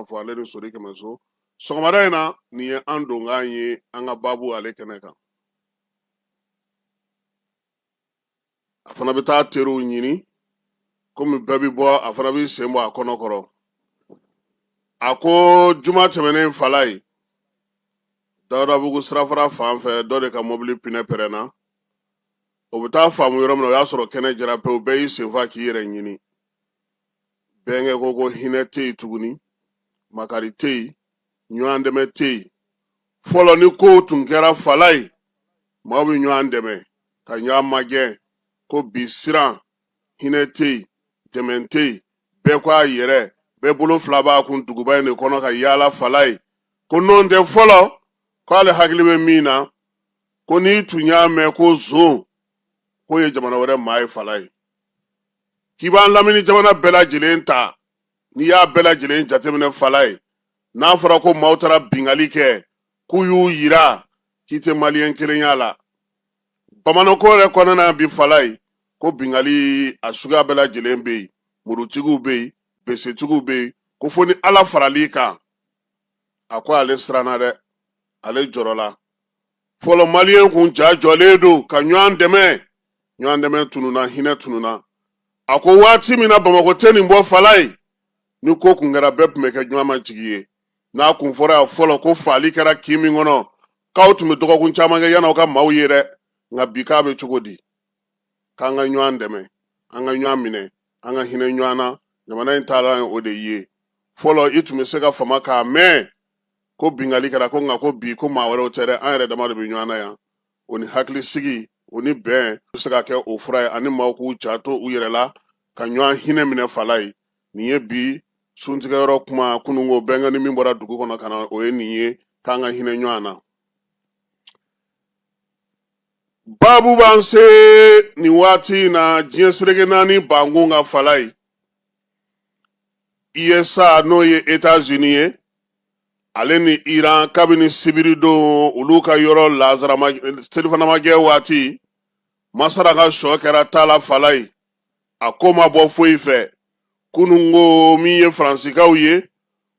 fɔ ale de sori kɛmɛso sɔgɔmada in na nin ye an donkan ye an ka baabu ale kɛnɛ kan a fana bɛ taa teriw ɲini komi bɛɛ bɛ bɔ a fana b'i sen bɔ a kɔnɔ kɔrɔ a ko juma tɛmɛnen falaye dawudabugu sirafara fan fɛ dɔ de ka mɔbili pinɛ pɛrɛnna o bɛ taa faamu yɔrɔ min na o y'a sɔrɔ kɛnɛ jara pewu bɛɛ y'i sen fa k'i yɛrɛ ɲini bɛnkɛ ko ko hinɛ tɛ yen tuguni makari tɛ yen ɲɔgɔn dɛmɛ tɛ yen fɔlɔ ni kow tun kɛra falaye maaw bɛ ɲɔgɔn dɛmɛ ka ɲɔgɔn magɛn ko bi siran hinɛ tɛ yen dɛmɛ tɛ yen bɛɛ ko a yɛrɛ bɛɛ bolo fila b'a kun duguba in de kɔnɔ ka yaala falaye ko n'o tɛ fɔlɔ k'ale hakili bɛ min na ko n'i tun y'a mɛn ko zon k'o ye jamana wɛrɛ maa ye falaye k'i b'an lamini jamana bɛɛ lajɛlen ta n'i y'a bɛɛ lajɛlen jateminɛ falaye n'a fɔra ko maaw taara bingali kɛ k'u y'u yira k'i tɛ maliyɛn kelen y'a la bamakɔ yɛrɛ kɔnɔna bi falaye ko bingali a suguya bɛɛ lajɛlen bɛ yen murutigiw bɛ yen besetigiw bɛ yen ko fo ni ala faral'i kan a ko ale siranna dɛ ale jɔrɔla fɔlɔ maliyɛn kun ja jɔlen don ka ɲɔgɔn dɛmɛ ɲɔgɔn dɛmɛ tununa hinɛ tununa a ko waati min na bamakɔ tɛ nin bɔ falaye ni ko kun kɛra bɛɛ tun bɛ kɛ ɲɔgɔn ma jigi ye n'a kun fɔra yan fɔlɔ ko faali kɛra kin min kɔnɔ k'aw tun bɛ dɔgɔkun caman kɛ yann'aw ka maaw ye dɛ nka bi k'a bɛ cogo di k'an ka ɲɔgɔn dɛmɛ an ka ɲɔgɔn minɛ an ka hinɛ ɲɔgɔn na jamana in taara o de ye fɔlɔ i tun bɛ se ka fama k'a mɛn ko bingali kɛra ko nka ko bi ko maa wɛrɛw tɛ dɛ an yɛrɛ dama de bɛ ɲɔgɔn na yan o ni hakilisigi o ni bɛn bɛ se ka kɛ o fura ye ani maaw k'u janto u yɛrɛ la ka ɲɔgɔn hinɛ minɛ falaye nin ye bi suntigɛyɔrɔ kuma kununko bɛnkɛ ni min bɔra dugu kɔnɔ ka na o ye nin ye k'an ka hinɛ ɲɔgɔn na babu b'an se nin waati in na diɲɛ seleke naani bankun kan falaye USA n'o ye Etats-Unis ye ale ni Iran kabini sibiridon olu ka yɔrɔ la selifanamajɛ waati masara ka sɔ kɛra taala falaye a ko ma bɔ foyi fɛ kunun ko min ye faransikaw ye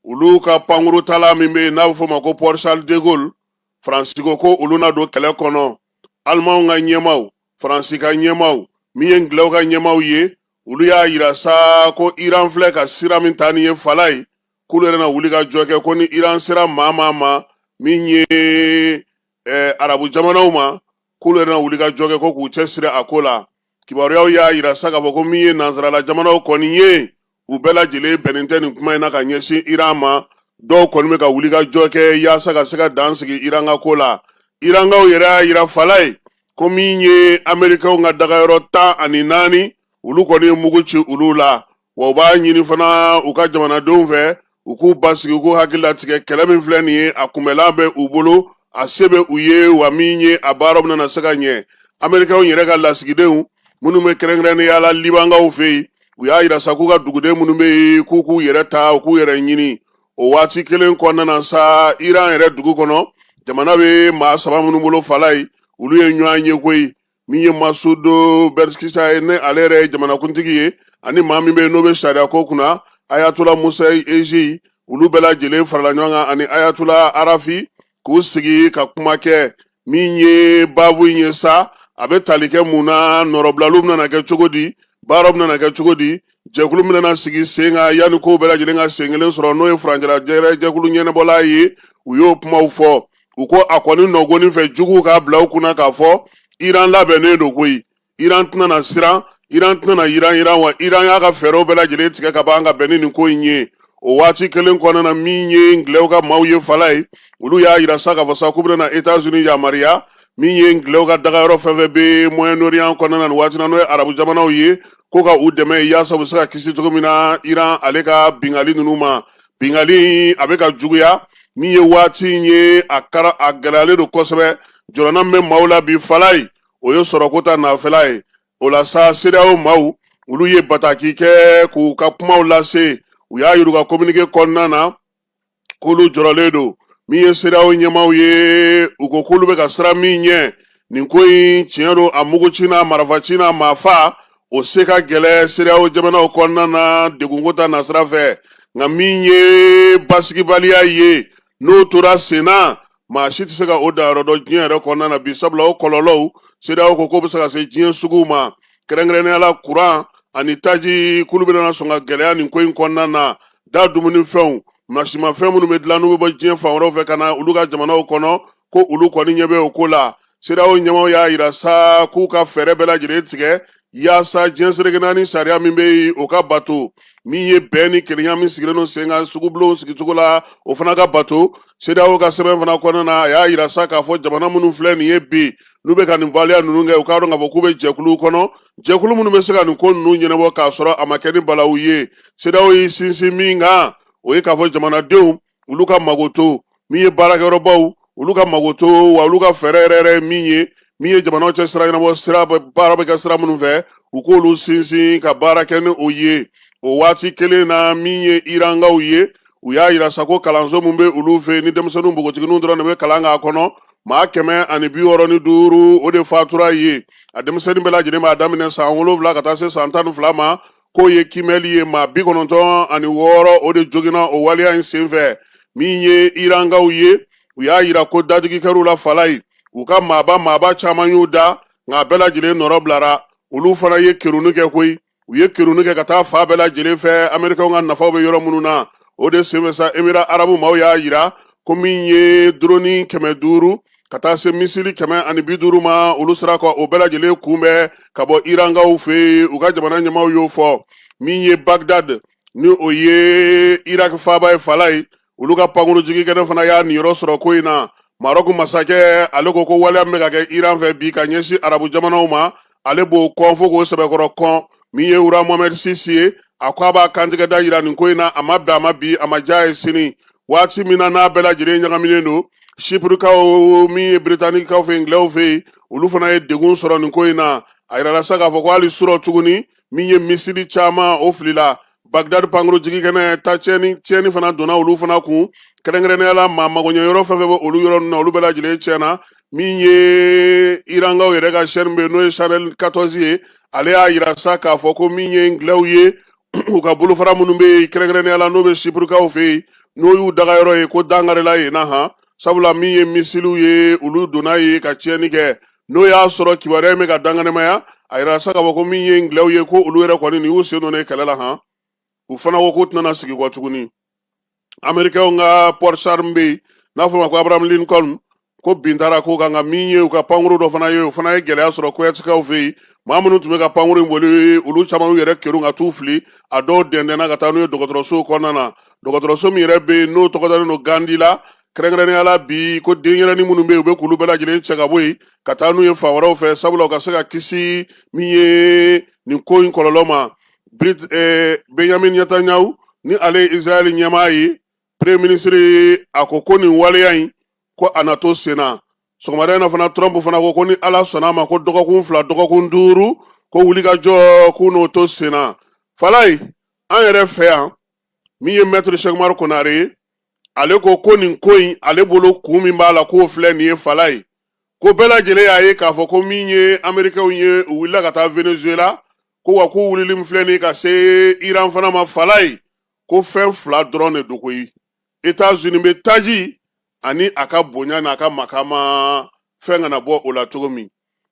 olu ka pankuruntala min bɛ yen n'a bɛ f'o ma ko Port Charles de Gaulle faransi ko ko olu na don kɛlɛ kɔnɔ alimanw ka ɲɛmaaw faransi ka ɲɛmaaw min ye ngilɛw ka ɲɛmaaw ye olu y'a yira sa ko iran filɛ ka sira min ta ni ye fala ye k'olu yɛrɛ na wuli ka jɔ kɛ ko ni iran sera maa maa ma min ye eh, arabu jamanaw ma k'olu yɛrɛ na wuli ka jɔ kɛ ko k'u cɛsiri a ko la kibaruyaw y'a yira sa k'a fɔ ko min ye nansarala jamanaw kɔni ye u bɛɛ lajɛlen bɛnnen tɛ nin kuma in na ka ɲɛsin iran ma dɔw kɔni bɛ ka wuli ka jɔ kɛ yaasa ka se ka dan sigi iran ka ko la irankaw yɛrɛ y'a yira fala ye ko min ye amerikɛnw ka dagayɔrɔ tan ani naani olu kɔni ye mugu ci olu la wa u b'a ɲini fana u ka jamanadenw fɛ u k'u basigi u k'u hakili latigɛ kɛlɛ min filɛ nin ye a kunbɛlan bɛ u bolo a se bɛ u ye wa min ye a baaraw bɛna se ka ɲɛ amerikɛnw yɛrɛ ka lasigidenw minnu bɛ kɛrɛnkɛrɛnnenya la libankaw fɛ yen u y'a yira sa k'u ka duguden minnu bɛ yen k'u k'u yɛrɛ ta u k'u yɛrɛ ɲini o waati kelen kɔnɔna na sa iran yɛrɛ dugu kɔnɔ jamana bɛ maa saba minnu bolo fala ye olu ye ɲɔgɔn ye koyi min ye masoud pezeshkian ye n'ale yɛrɛ ye jamanakuntigi ye ani maa min bɛ yen n'o bɛ sariya ko kunna ayatola mohseni ejei olu bɛɛ lajɛlen farala ɲɔgɔn kan ani ayatola arafi k'u sigi ka kuma kɛ min ye baabu in ye sa a bɛ tali kɛ mun na nɔrɔbilaliw bɛna kɛ cogo di baaraw bɛna kɛ cogo di jɛkulu bɛna sigi sen kan yanni kow bɛɛ lajɛlen ka sen kelen sɔrɔ n'o ye furancɛla jɛkulu ɲɛnabɔla ye u y'o kumaw fɔ u ko a kɔni nɔgɔnni fɛ juguw k'a bila u kunna k'a fɔ iran labɛnnen don koyi iran tɛna na siran iran tɛna na yiranyiran wa iran y'a ka fɛɛrɛw bɛɛ lajɛlen tigɛ ka ban ka bɛn ni nin ko in ye o waati kelen kɔnɔna na min ye ngilɛw ka maaw ye fala ye olu y'a yira sa k'a fɔ sa k'u bɛna etats unis yamaruya min ye ngilɛw ka dagayɔrɔ fɛn fɛn bɛ moyen orient kɔnɔna na nin waati na n'o ye arabu jamanaw ye ko ka u dɛmɛ yaasa u bɛ se ka kisi cogo min na iran ale ka bingali ninnu ma bingali a bɛ ka juguya min ye waati in ye a gɛlɛyalen don kosɛbɛ jɔrɔna min bɛ maaw la bi fala ye o ye sɔrɔko ta nafɛla ye o la sa CEDEAO maaw olu ye bataki kɛ k'u ka kumaw lase u y'a yira u ka kominike kɔnɔna na k'olu jɔrɔlen don min ye CEDEAO ɲɛmaaw ye u ko k'olu bɛ ka siran min ɲɛ nin ko in tiɲɛ don a muguci n'a marafaci n'a maafa o se ka gɛlɛn CEDEAO jamanaw kɔnɔna na degunko ta nasira fɛ nka min ye basigibaliya ye n'o tora sen na maa si tɛ se ka o danyɔrɔ dɔn diɲɛ yɛrɛ kɔnɔna na bi sabula o kɔlɔlɔw CEDEAO ko k'o bɛ se ka se diɲɛ suguw ma kɛrɛnkɛrɛnnenya la kuran ani taji k'olu bɛna sɔn ka gɛlɛya nin ko in kɔnɔna na da dumunifɛnw mansinmafɛn minnu bɛ dilan n'u bɛ bɔ diɲɛ fan wɛrɛw fɛ ka na olu ka jamanaw kɔnɔ ko olu kɔni ɲɛ bɛ o ko la CEDEAO ɲɛmaaw y'a yira sa k'u ka fɛɛrɛ bɛɛ lajɛlen tigɛ yaasa diɲɛ sereke naani sariya min bɛ yen o ka bato min ye bɛn ni kelenya min sigilen don sen kan sugubulonw sigicogo la o fana ka bato CEDEAO ka sɛbɛn fana kɔnɔna na a y'a yira sa k'a fɔ jamana minnu filɛ nin ye bi n'u bɛ ka nin waleya ninnu kɛ u k'a dɔn k'a fɔ k'u bɛ jɛkuluw kɔnɔ jɛkulu minnu bɛ se ka nin ko ninnu ɲɛnabɔ k'a sɔrɔ a ma kɛ ni balawu ye CEDEAO y'i sinsin min kan o ye k'a fɔ jamanadenw olu ka magoto min ye baarakɛyɔrɔbaw olu ka magoto wa olu ka fɛɛrɛ yɛrɛ yɛrɛ min ye min ye jamanaw cɛ sira ɲɛnabɔ sira baara bɛ kɛ sira minnu fɛ u k'olu sinsin ka baara kɛ ni o ye o waati kelen na min ye irankaw ye u y'a yira sa ko kalanso min bɛ olu fɛ ni denmisɛnninw npogotigininw dɔrɔn de bɛ kalan k'a kɔnɔ maa kɛmɛ ani bi wɔɔrɔ ni duuru o de fatura ye a denmisɛnnin bɛɛ lajɛlen b'a daminɛ san wolonwula ka taa se san tan ni fila ma k'o ye kimɛli ye maa bi kɔnɔntɔn ani wɔɔrɔ o de joginna o waleya in senfɛ min ye irankaw ye u y'a yira ko dadigi kɛr'u la fan la yen u ka maaba maaba caman y'u da nka a bɛɛ lajɛlen nɔrɔ bilara olu fana ye kerunni kɛ koyi u ye kerunni kɛ ka taa fan bɛɛ lajɛlen fɛ amerikɛnw ka nafaw bɛ yɔrɔ minnu na o de senfɛ sa emira arabu maaw y'a yira ko min ye doroni kɛmɛ duuru ka taa se misili kɛmɛ ani bi duuru ma olu sera ka o bɛɛ lajɛlen kunbɛn ka bɔ irankaw fɛ yen u ka jamana ɲɛmaaw y'o fɔ min ye bagdad ni o ye iraki faaba ye fan la yen olu ka pankuru jigi kɛnɛ fana y'a niyɔrɔ sɔrɔ ko in na marɔku masakɛ ale ko ko waleya min bɛ ka kɛ iran fɛ bi ka ɲɛsin arabu jamanaw ma ale b'o kɔn fo k'o sɛbɛkɔrɔ kɔn min ye roi mohamɛd sisi ye a ko a b'a kantigɛda yira nin ko in na a ma bɛn a ma bi a ma diy'a ye sini waati min na n'a bɛɛ lajɛlen ɲagaminen don sipurikaw min ye biritanikaw fɛ ingilɛw fɛ yen olu fana ye degun sɔrɔ nin ko in na a yirala sa k'a fɔ ko hali surɔ tuguni min ye misili caman o filila bagdad pankuru jigi kɛnɛ ta tiɲɛni tiɲɛni fana donna olu fana kun kɛrɛnkɛrɛnnenya la maa magoɲɛ yɔrɔ fɛn fɛn bɛ olu yɔrɔ ninnu na olu bɛɛ lajɛlen tiɲɛna min ye irankaw yɛrɛ ka chaîne bɛ n'o ye channel 14 ye ale y'a yira sa k'a fɔ ko min ye ingilɛw ye u ka bolofara minnu bɛ yen kɛrɛnkɛrɛnnenya la n'o bɛ sipurikaw fɛ yen n'o y'u daga yɔrɔ ye ko dankarila yen na han sabula min ye misiliw ye olu donna yen ka tiɲɛni kɛ n'o y'a sɔrɔ kibaruya in bɛ ka dankɛnɛmaya a yira sa k'a fɔ ko min ye ingilɛw ye ko olu yɛrɛ kɔni nin y'u sen don nin kɛlɛ la han u fana ko k'u tɛna sigi kɔ tuguni amerikɛnw ka porte-char bɛ yen n'a fɔ ma ko abraham lincoln ko bin taara k'o kan nka min ye u ka pankuru dɔ fana ye o fana ye gɛlɛya sɔrɔ kowetikaw fɛ yen maa minnu tun bɛ ka pankuru in boli olu caman y'u yɛrɛ kerun ka t'u fili a dɔw dɛndɛnna ka taa n'u ye dɔgɔtɔrɔsow kɔnɔna na dɔgɔtɔrɔso min yɛrɛ bɛ yen n'o tɔgɔ dalen don gandi la kɛrɛnkɛrɛnnenya la bi ko denyɛrɛni minnu bɛ yen u bɛ k'olu bɛɛ lajɛlen cɛ ka bɔ yen ka taa n'u ye fan wɛrɛw fɛ sabula u ka se ka kisi min ye nin ko in kɔlɔlɔ ma eh, benyamin netanyahu ni ale ye israɛl ɲɛmaa ye premier ministre a ko ko nin waleya in ko a na to sen na sɔgɔmada in na fana trump fana ko ko ni ala sɔnna a ma ko dɔgɔkun fila dɔgɔkun duuru ko wulikajɔ k'u n'o to sen na falayi an yɛrɛ fɛ yan min ye mɛtiri sɛkumari konare ye ale ko ko nin ko in ale bolo kun min b'a la k'o filɛ nin ye falayi ko bɛɛ lajɛlen y'a ye k'a fɔ ko min ye amerikɛnw ye u wulila ka taa venezuela ko wa k'u wulili min filɛ nin ka se iran fana ma falayi ko fɛn fila dɔrɔn de don koyi etats unis bɛ taji ani a ka bonya n'a ka makama fɛn kana bɔ o la cogo min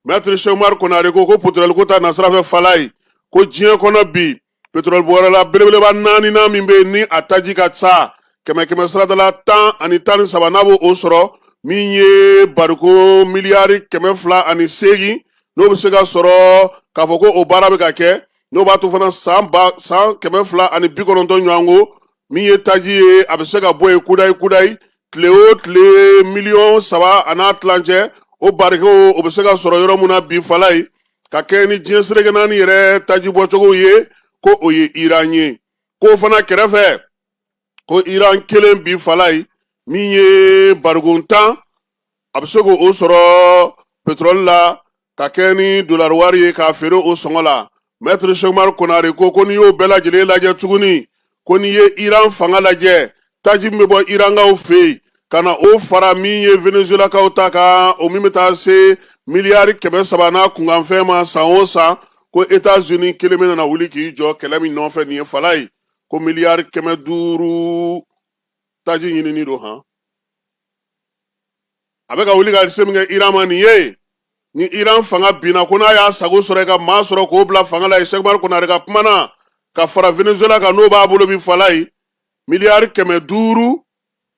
mɛtiri sɛkumari konare ko ko petroli ko ta nasira fɛ falayi ko diɲɛ kɔnɔ bi petroli bɔyɔrɔla belebeleba naaninan min bɛ yen ni a taji ka ca kɛmɛ kɛmɛ sarada la tan ani tan ni saba n'a b'o sɔrɔ min ye bariko miliyari kɛmɛ fila ani seegin n'o bɛ se ka sɔrɔ k'a fɔ ko o baara bɛ ka kɛ n'o b'a to fana san kɛmɛ fila ani bi kɔnɔntɔn ɲɔgɔn ko min ye taji ye a bɛ se ka bɔ yen kudayi kudayi tile o tile miliyɔn saba a n'a tilancɛ o barikow o bɛ se ka sɔrɔ yɔrɔ min na bi falayi ka kɛɲɛ ni diɲɛ sereke naani yɛrɛ taji bɔcogo ye ko o ye iran ye k'o fana kɛrɛfɛ ko iran kelen bi falayi min ye bariko tan a bɛ se k'o sɔrɔ petrɔli la ka kɛ ni dolari wari ye k'a feere o sɔngɔ la mɛtiri sɛkumari konare ko ko n'i y'o bɛɛ lajɛlen lajɛ tuguni ko n'i ye iran fanga lajɛ taji min bɛ bɔ irankaw fɛ yen ka na o fara min ye venezuelakaw ta kan o min bɛ taa se miliyari kɛmɛ saba n'a kunkanfɛn ma san o san ko etats unis kelen bɛna na wuli k'i jɔ kɛlɛ min nɔfɛ nin ye falayi ko miliyari kɛmɛ duuru taji ɲinini don han a bɛ ka wuli ka se min kɛ iran ma nin ye ni iran fanga binna ko n'a y'a sago sɔrɔ i ka maa sɔrɔ k'o bila fanga la yen sɛkumari konare ka kuma na ka fara venezuela kan n'o b'a bolo bi falayi miliyari kɛmɛ duuru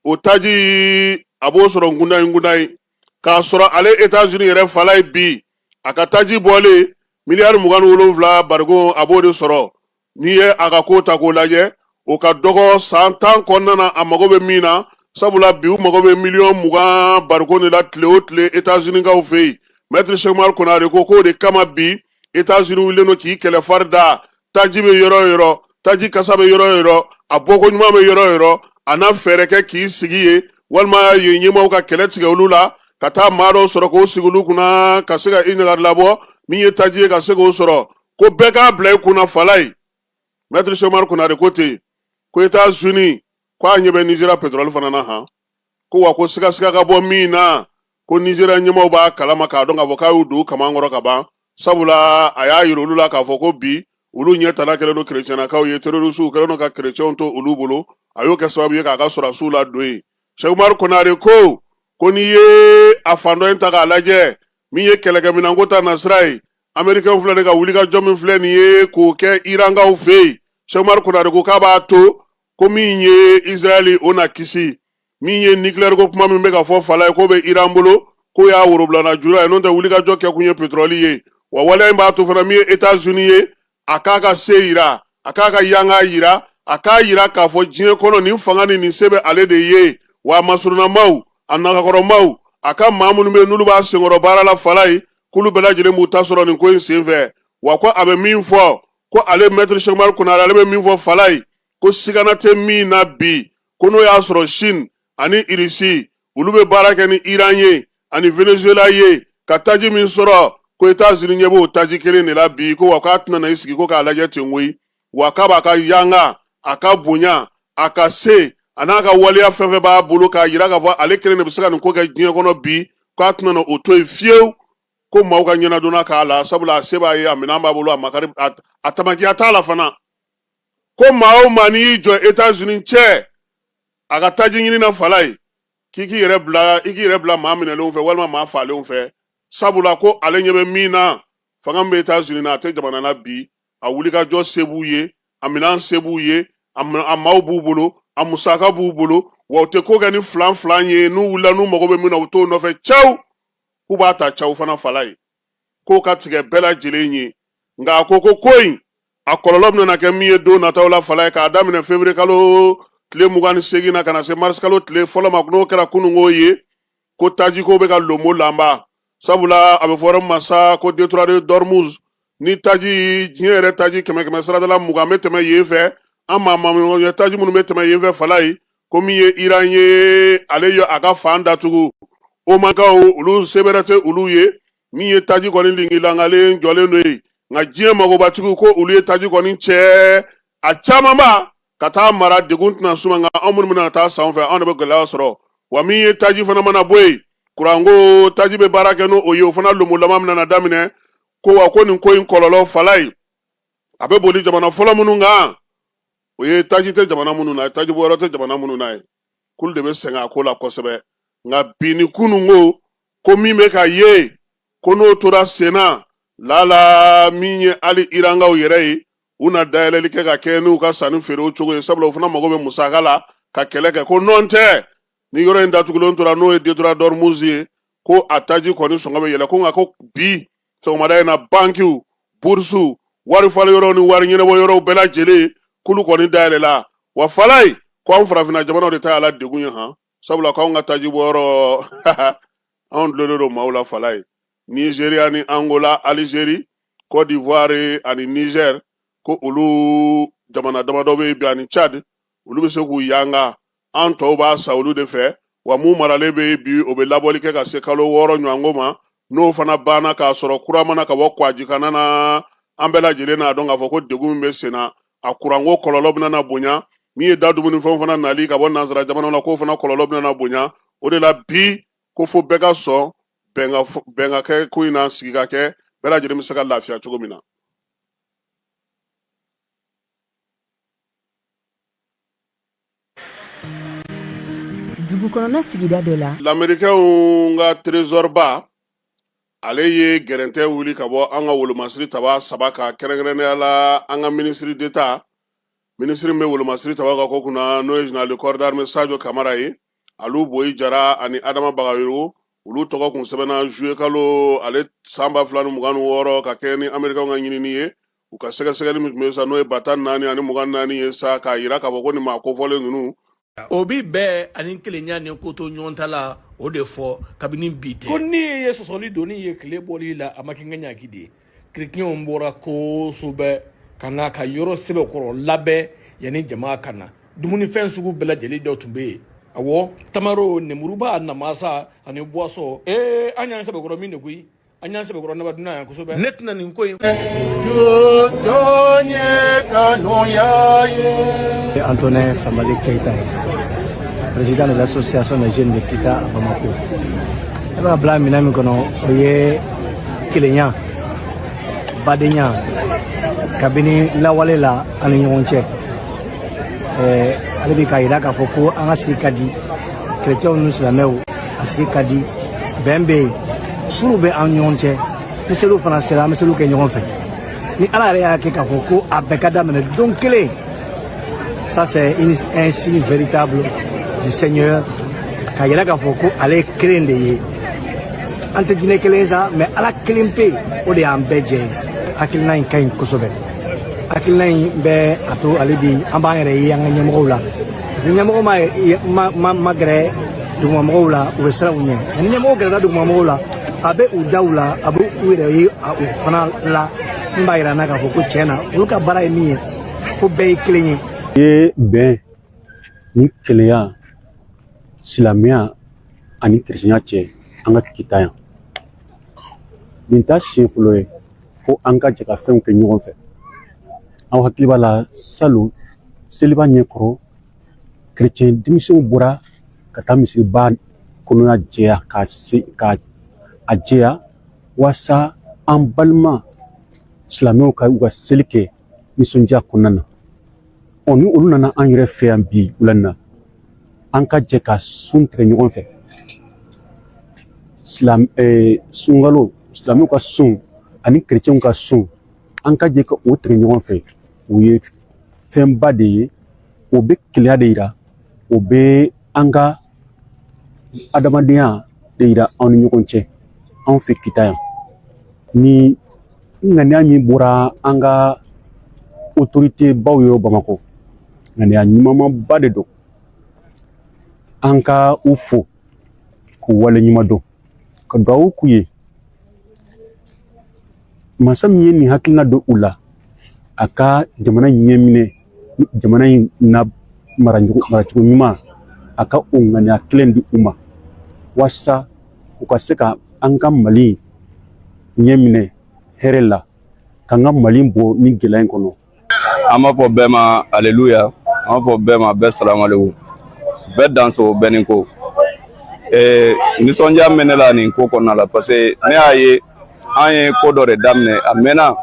o taji a b'o sɔrɔ kudayi kudayi k'a sɔrɔ ale etats unis yɛrɛ falayi bi a ka taji bɔlen miliyari mugan ni wolonwula barigon a b'o de sɔrɔ n'i ye a ka ko ta k'o lajɛ o ka dɔgɔ san tan kɔnɔna na a mago bɛ min na sabula bi u mago bɛ miliyɔn mugan bariko de la tile o tile etazinikaw fɛ yen mɛtiri sɛkumari konare ko k'o de kama bi etazini wulilen don k'i kɛlɛ fari da taji bɛ yɔrɔ o yɔrɔ taji kasa bɛ yɔrɔ o yɔrɔ a bɔko ɲuman bɛ yɔrɔ o yɔrɔ a na fɛɛrɛ kɛ k'i sigi yen walima yen ɲɛmaaw ka kɛlɛ tigɛ olu la ka taa maa dɔw sɔrɔ k'o sigi olu kunna ka se ka i ɲagari labɔ min ye taji ye ka se k'o sɔrɔ ko bɛɛ k'a bila i kunna falaye mɛtiri sɛki umaru konare ko ten ko etazini ko a ɲɛ bɛ nizeriya petrɔli fana na han ko wa ko sigasiga ka bɔ min na ko nizeriya ɲɛmaaw b'a kalama k'a dɔn k'a fɔ k'a y'u don kaman kɔrɔ ka ban sabula a y'a yira olu la k'a fɔ ko bi olu ɲɛ tana kɛlen don kerecɛnnakaw ye terorisiw kɛlen don ka kerecɛnw to olu bolo a y'o kɛ sababu ye k'a ka sɔrɔdasiw ladon yen sɛki umaru konare ko ko n'i ye a fan dɔ in ta k'a lajɛ min ye kɛlɛkɛminɛnko ta nasira ye amerikɛnw filɛ nin ka wulikajɔ min filɛ nin ye k'o kɛ irankaw fɛ yen sɛki umaru konare ko k'a b'a to ko min ye israɛli o na kisi min ye nikileyɛriko kuma min bɛ ka fɔ falaye k'o bɛ iran bolo k'o y'a worobilana jura ye n'o tɛ wulikajɔ kɛkun ye petrɔli ye wa waleya in b'a to fana min ye etats unis ye a k'a ka se yira a k'a ka yanga yira a k'a yira k'a fɔ diɲɛ kɔnɔ nin fanga ni nin se bɛ ale de ye wa a masurunamaw a nagakɔrɔmaw a ka maa minnu bɛ n'olu b'a senkɔrɔ baara la falaye k'olu bɛɛ lajɛlen b'u ta sɔrɔ nin ko in senfɛ wa ko a bɛ min fɔ ko ale mɛtiri sɛki umaru konare ale bɛ min fɔ falaye ko sigana tɛ min na bi ko n'o y'a sɔrɔ chine ani irisi olu bɛ baara kɛ ni iran ye ani venezuela ye ka taji min sɔrɔ ko etazini ɲɛ b'o taji kelen de la bi ko wa k'a tɛna na i sigi ko k'a lajɛ ten koyi wa k'a b'a ka yanga a ka bonya a ka se a n'a ka waleya fɛn fɛn b'a bolo k'a yira k'a fɔ ale kelen de bɛ se ka nin ko kɛ diɲɛ kɔnɔ bi k'a tɛna na o to yen fiyewu ko maaw ka ɲɛnadonna k'a la sabula a se b'a ye a minɛn b'a bolo a makari a tamakiya t'a la fana ko maa o maa n'i y'i jɔ etazini cɛ a ka taji ɲini na falaye k'i k'i yɛrɛ bila i k'i yɛrɛ bila maa minɛlenw fɛ walima maa falenw fɛ sabula ko ale ɲɛ bɛ min na fanga min bɛ etazini na a tɛ jamana na bi a wulikajɔ se b'u ye a minɛn se b'u ye a maaw b'u bolo a musaka b'u bolo wa u tɛ ko kɛ ni filanfilan ye n'u wulila n'u mago bɛ min na u t'o nɔfɛ cawu k'u b'a ta cawu fana falaye k'o ka tigɛ bɛɛ lajɛlen ye nka a ko ko ko in a kɔlɔlɔ bɛna kɛ min ye don nataw la falaye k'a daminɛ fevrier kalo tile mugan ni seegin na ka na se mars kalo tile fɔlɔ ma n'o kɛra kununko ye ko tajiko bɛ ka lomolanba sabula a bɛ fɔ yɔrɔ ma sa ko detroit de dormuz ni taji diɲɛ yɛrɛ taji kɛmɛ kɛmɛsarada la mugan bɛ tɛmɛ yen fɛ an maa maa taji minnu bɛ tɛmɛ yen fɛ falaye ko min ye iran ye ale ye a ka fan datugu omankaw olu se bɛrɛ tɛ olu ye min ye taji kɔni lingilangalen jɔlen don yen nka diɲɛ magobatigiw ko olu ye taji kɔni cɛ a camanba ka taa mara degun tɛna s'u ma nka anw minnu bɛna taa san fɛ anw de bɛ gɛlɛya sɔrɔ wa min ye taji fana mana bɔ yen kuranko taji bɛ baara kɛ n'o ye o fana lomolama bɛna daminɛ ko wa ko nin ko in kɔlɔlɔ falaye a bɛ boli jamana fɔlɔ minnu kan o ye taji tɛ jamana minnu na taji bɔ yɔrɔ tɛ jamana minnu na ye k'olu de bɛ sɛgɛn a ko la kosɛbɛ nka bi ni kunun ko ko min bɛ ka ye ko n'o tora sen na lala min ye hali irankaw yɛrɛ ye u na dayɛlɛli kɛ ka kɛɲɛ n'u ka sanni feere o cogo ye sabula u fana mago bɛ musaka la ka kɛlɛ kɛ ko nɔn tɛ ni yɔrɔ in datugulen tora n'o ye détroit d'ormuz ye ko a taji kɔni sɔngɔ bɛ yɛlɛ ko nka ko bi sɔgɔmada in na bankiw burusiw wari falen yɔrɔw ni wari ɲɛnabɔ yɔrɔw bɛɛ lajɛlen k'olu kɔni dayɛlɛla wa fala ye ko anw farafinna jamanaw de ta y'a la degun ye han sabula k'anw ka taji bɔ yɔrɔ anw dulonnen don maaw la fala ye nizeriya ni angola alizeri cote d'ivoire ani niger ko olu jamana damadɔ bɛ yen bi ani chad olu bɛ se k'u yanga an tɔw b'a san olu de fɛ wa mun maralen bɛ yen bi o bɛ labɔli kɛ ka se kalo wɔɔrɔ ɲɔgɔnko ma n'o fana banna k'a sɔrɔ kura ma na ka bɔ kwajikanna na an bɛɛ lajɛlen n'a dɔn k'a fɔ ko degun min bɛ sen na a kuranko kɔlɔlɔ bɛna na bonya min ye da dumunifɛnw fana nali ka bɔ nansara jamana na k'o fana kɔlɔlɔ bɛna na bonya o de la bi ko fo bɛɛ ka sɔn bɛn ka kɛ ko in na sigi ka kɛ bɛɛ lajɛlen bɛ se ka lafiya cogo min na dugu kɔnɔna sigida dɔ la lamerikɛw ka trezɔriba ale ye gɛrɛntɛ wuli ka bɔ an ka wolomasiri taba saba ka kɛrɛnkɛrɛnnenya la an ka ministre d'état minisiri bɛ wolomasiri tabaw ka ko kunna n'o ye général de corps d'armée sajo kamara ye alu boyi jara ani adama bagayogo olu tɔgɔ kun sɛbɛnna zuye kalo ale san ba fila ni mugan ni wɔɔrɔ ka kɛɲɛ ni amerikɛw ka ɲinini ye u ka sɛgɛsɛgɛli min tun bɛ sa n'o ye ba tan ni naani ani mugan ni naani ye sa k'a jira k'a fɔ ko nin maa kofɔlen ninnu o bi bɛn ani kelenya ni ko to ɲɔgɔn ta la o de fɔ kabini bi tɛ ko ni ye sɔsɔli doni ye tile bɔli la a ma kɛ n ka ɲaki de ye kiritiyɛnw bɔra kosɛbɛ ka na ka yɔrɔ sɛbɛkɔrɔ labɛn yanni jama ka na dumunifɛn sugu bɛɛ lajɛlen dɔ tun bɛ yen awɔ tamaro nemuruba namasa ani buwasɔn ee an y'an sɛbɛkɔrɔ min de koyi an y'an sɛbɛkɔrɔ naba dunan yan kosɛbɛ ne tɛna nin ko in jɔn ye kanuya ye e antoine samali keyita ye président de l'association des jeunes de kita à bamako e b'a bila minɛn min kɔnɔ o ye kelenya badenya kabini lawale la ani ɲɔgɔn cɛ ale bɛ k'a jira k'a fɔ ko an ka sigi ka di kerecɛnw ni silamɛw a sigi ka di bɛn bɛ yen furu bɛ an ɲɔgɔn cɛ ni seliw fana sera an bɛ seliw kɛ ɲɔgɔn fɛ ni ala yɛrɛ y'a kɛ k'a fɔ ko a bɛɛ ka daminɛ don kelen ça c'est un signe véritable du seigneur k'a yira k'a fɔ ko ale ye kelen de ye an tɛ diinɛ kelen sa mais ala kelen pe o de y'an bɛɛ jɛ ye hakilina in ka ɲi kosɛbɛ hakilina in bɛ a to hali bi an b'an yɛrɛ ye an ka ɲɛmɔgɔw la Ni ɲɛmɔgɔ ma gɛrɛ dugumamɔgɔw la u bɛ siran u ɲɛ ni ɲɛmɔgɔ gɛrɛla dugumamɔgɔw la a bɛ u daw la a bɛ u yɛrɛ ye u fana la nin b'a yira n na k'a fɔ ko tiɲɛ na olu ka baara ye min ye ko bɛɛ ye kelen ye. I ye bɛn ni kelenya silamɛya ani kerecɛnya cɛ an ka kita yan nin t'a siɲɛ fɔlɔ ye ko an ka jɛ ka fɛnw kɛ ɲɔgɔn fɛ aw hakili b'a la salon seliba ɲɛkɔrɔ kerecɛn denmisɛnw bɔra ka taa misiriba kɔnɔna jɛya ka a jɛya walasa an balima silamɛw ka u ka seli kɛ nisɔndiya kɔnɔna na ɔ ni olu nana an yɛrɛ fɛ yan bi wula in na an ka jɛ ka sun tigɛ ɲɔgɔn fɛ silam sunkalo silamɛw ka sun ani kerecɛnw ka sun an ka jɛ ka o tigɛ ɲɔgɔn fɛ o ye fɛnba de ye o bɛ kelenya de yira o bɛ an ka adamadenya de yira anw ni ɲɔgɔn cɛ anw fɛ kita yan ni ŋaniya min bɔra an ka autorité baw yɔrɔ bamakɔ ŋaniya ɲumanba de don an ka u fo k'u wale ɲuman dɔn ka duwawu k'u ye masa min ye nin hakilina don u la a ka jamana ɲɛminɛ jamana in na maracogo maracogo ɲuman a ka o ŋaniya kelen di u ma walasa u ka se ka an ka mali ɲɛminɛ hɛrɛ la k'an ka mali bɔ nin gɛlɛya in kɔnɔ an b'a fɔ bɛɛ ma aleluya an b'a fɔ bɛɛ ma bɛɛ salamalekum bɛɛ danso bɛɛ ni ko ee nisɔndiya bɛ ne la nin ko kɔnɔna la parce que ne y'a ye an ye ko dɔ de daminɛ a mɛnna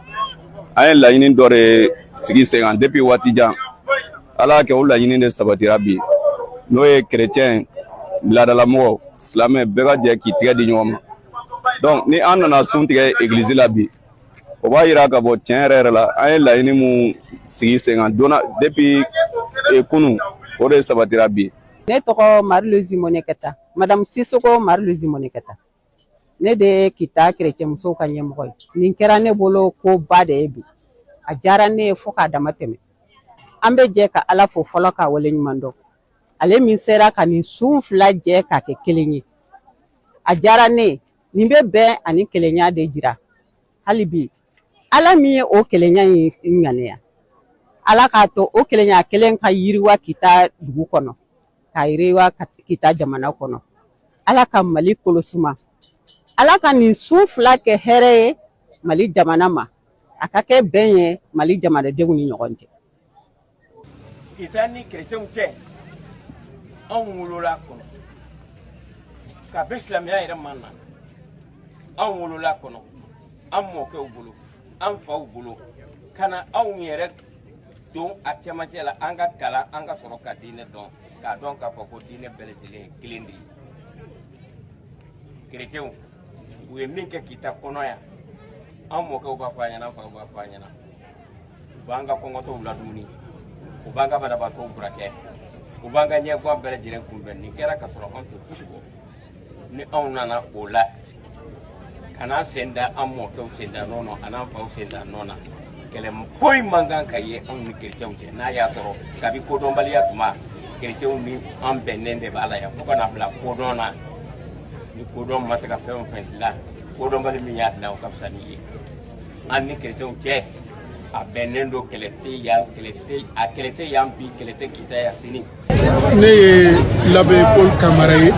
an ye laɲini dɔ de sigi sen kan depuis waati jan ala y'a kɛ o laɲini de sabatira bi n'o ye kerecɛn laadalamɔgɔ silamɛ bɛɛ ka jɛ k'i tɛgɛ di ɲɔgɔn ma donc ni an nana sun tigɛ egilizi la bi o b'a yira ka bɔ tiɲɛ yɛrɛ yɛrɛ la an ye laɲini mun sigi sen kan donna depuis e, kunu o de sabatira bi ne tɔgɔ Marie-Louise monekɛta madamu Sisoko Marie-Louise monekɛta ne de ye kita kerecɛn musow ka ɲɛmɔgɔ ye nin kɛra ne bolo ko ba de ye bi a diyara ne ye fo k'a dama tɛmɛ an bɛ jɛ ka ala fo fɔlɔ k'a wale ɲuman dɔn ale min sera ka nin sun fila jɛ k'a kɛ kelen ye a diyara ne ye nin bɛ bɛn ani kelenya de jira hali bi ala min ye o kelenya in ŋaniya ala k'a to o kelenya kelen ka yiriwa kita dugu kɔnɔ ka yiriwa kita jamana kɔnɔ ala ka mali kolosuma ala ka nin sun fila kɛ hɛrɛ ye mali jamana ma a ka kɛ bɛn ye mali jamanadenw ni ɲɔgɔn cɛ Kita ni chrétienw cɛ anw wolola a kɔnɔ kabi silamɛya yɛrɛ ma na anw wolola a kɔnɔ an mɔkɛw bolo an faw bolo ka na anw yɛrɛ don a cɛmancɛ la an ka kalan an ka sɔrɔ ka diinɛ dɔn k'a dɔn k'a fɔ ko diinɛ bɛɛ lajɛlen ye kelen de ye kerecɛnw u ye min kɛ kita kɔnɔ yan an mɔkɛw b'a fɔ an ɲɛna an faw b'a fɔ an ɲɛna u b'an ka kɔngɔtɔw ladumuni u b'an ka banabaatɔw furakɛ u b'an ka ɲɛguwan bɛɛ lajɛlen kunbɛn nin kɛra ka sɔrɔ anw tɛ fosi bɔ ni anw nana o la ka n'an sen da an mɔkɛw sen da nɔ na an'an faw sen da nɔ na kɛlɛ foyi man kan ka ye anw ni kerecɛnw cɛ n'a y'a sɔrɔ kabi kodɔnbaliya tuma kerecɛnw ni an bɛnnen de b'a la yan fo ka na bila kodɔn na ni kodɔn ma se ka fɛn o fɛn dilan kodɔnbali min y'a dilan o ka fisa n'i ye an ni kerecɛnw cɛ a bɛnnen don kɛlɛ tɛ yan kɛlɛ tɛ yan bi kɛlɛ tɛ kita yan sini. ne ye l'abbé Paul Kamara ye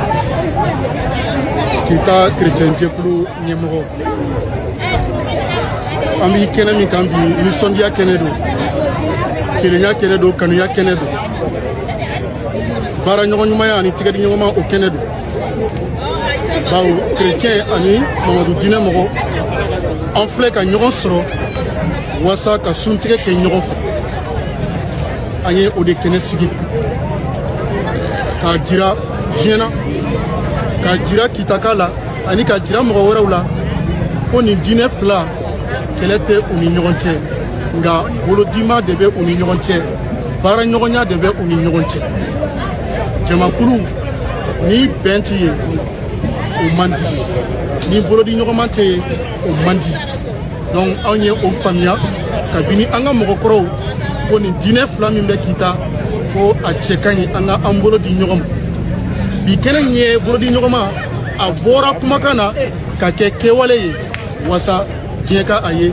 kita kerecɛn jɛkulu ɲɛmɔgɔ an bɛ kɛnɛ min kan bi nisɔndiya kɛnɛ don kelenya kɛnɛ don kanuya kɛnɛ don baara ɲɔgɔn ɲumanya ani tigɛdiɲɔgɔnma o kɛnɛ don bawo kerecɛn ani mamadu diinɛ mɔgɔ an filɛ ka ɲɔgɔn sɔrɔ waasa ka suntigɛ kɛ ɲɔgɔn fɛ an ye o de kɛnɛ sigi k'a jira diɲɛ na k'a jira kitaka la ani k'a jira mɔgɔ wɛrɛw la ko nin diinɛ fila kɛlɛ tɛ u ni ɲɔgɔn cɛ nka bolodima de bɛ u ni ɲɔgɔn cɛ baara ɲɔgɔnya de bɛ u ni ɲɔgɔn cɛ jamakulu ni bɛn tɛ yen o man di ni bolodi ɲɔgɔnma tɛ yen o man di donc anw ye o faamuya kabini an ka mɔgɔkɔrɔw ko nin diinɛ fila min bɛ kita ko a cɛ ka ɲi an ka an bolo di ɲɔgɔn ma bi kɛnɛ in ye bolodi ɲɔgɔnma a bɔra kumakan na ka kɛ kɛwale ye walasa diɲɛ ka a ye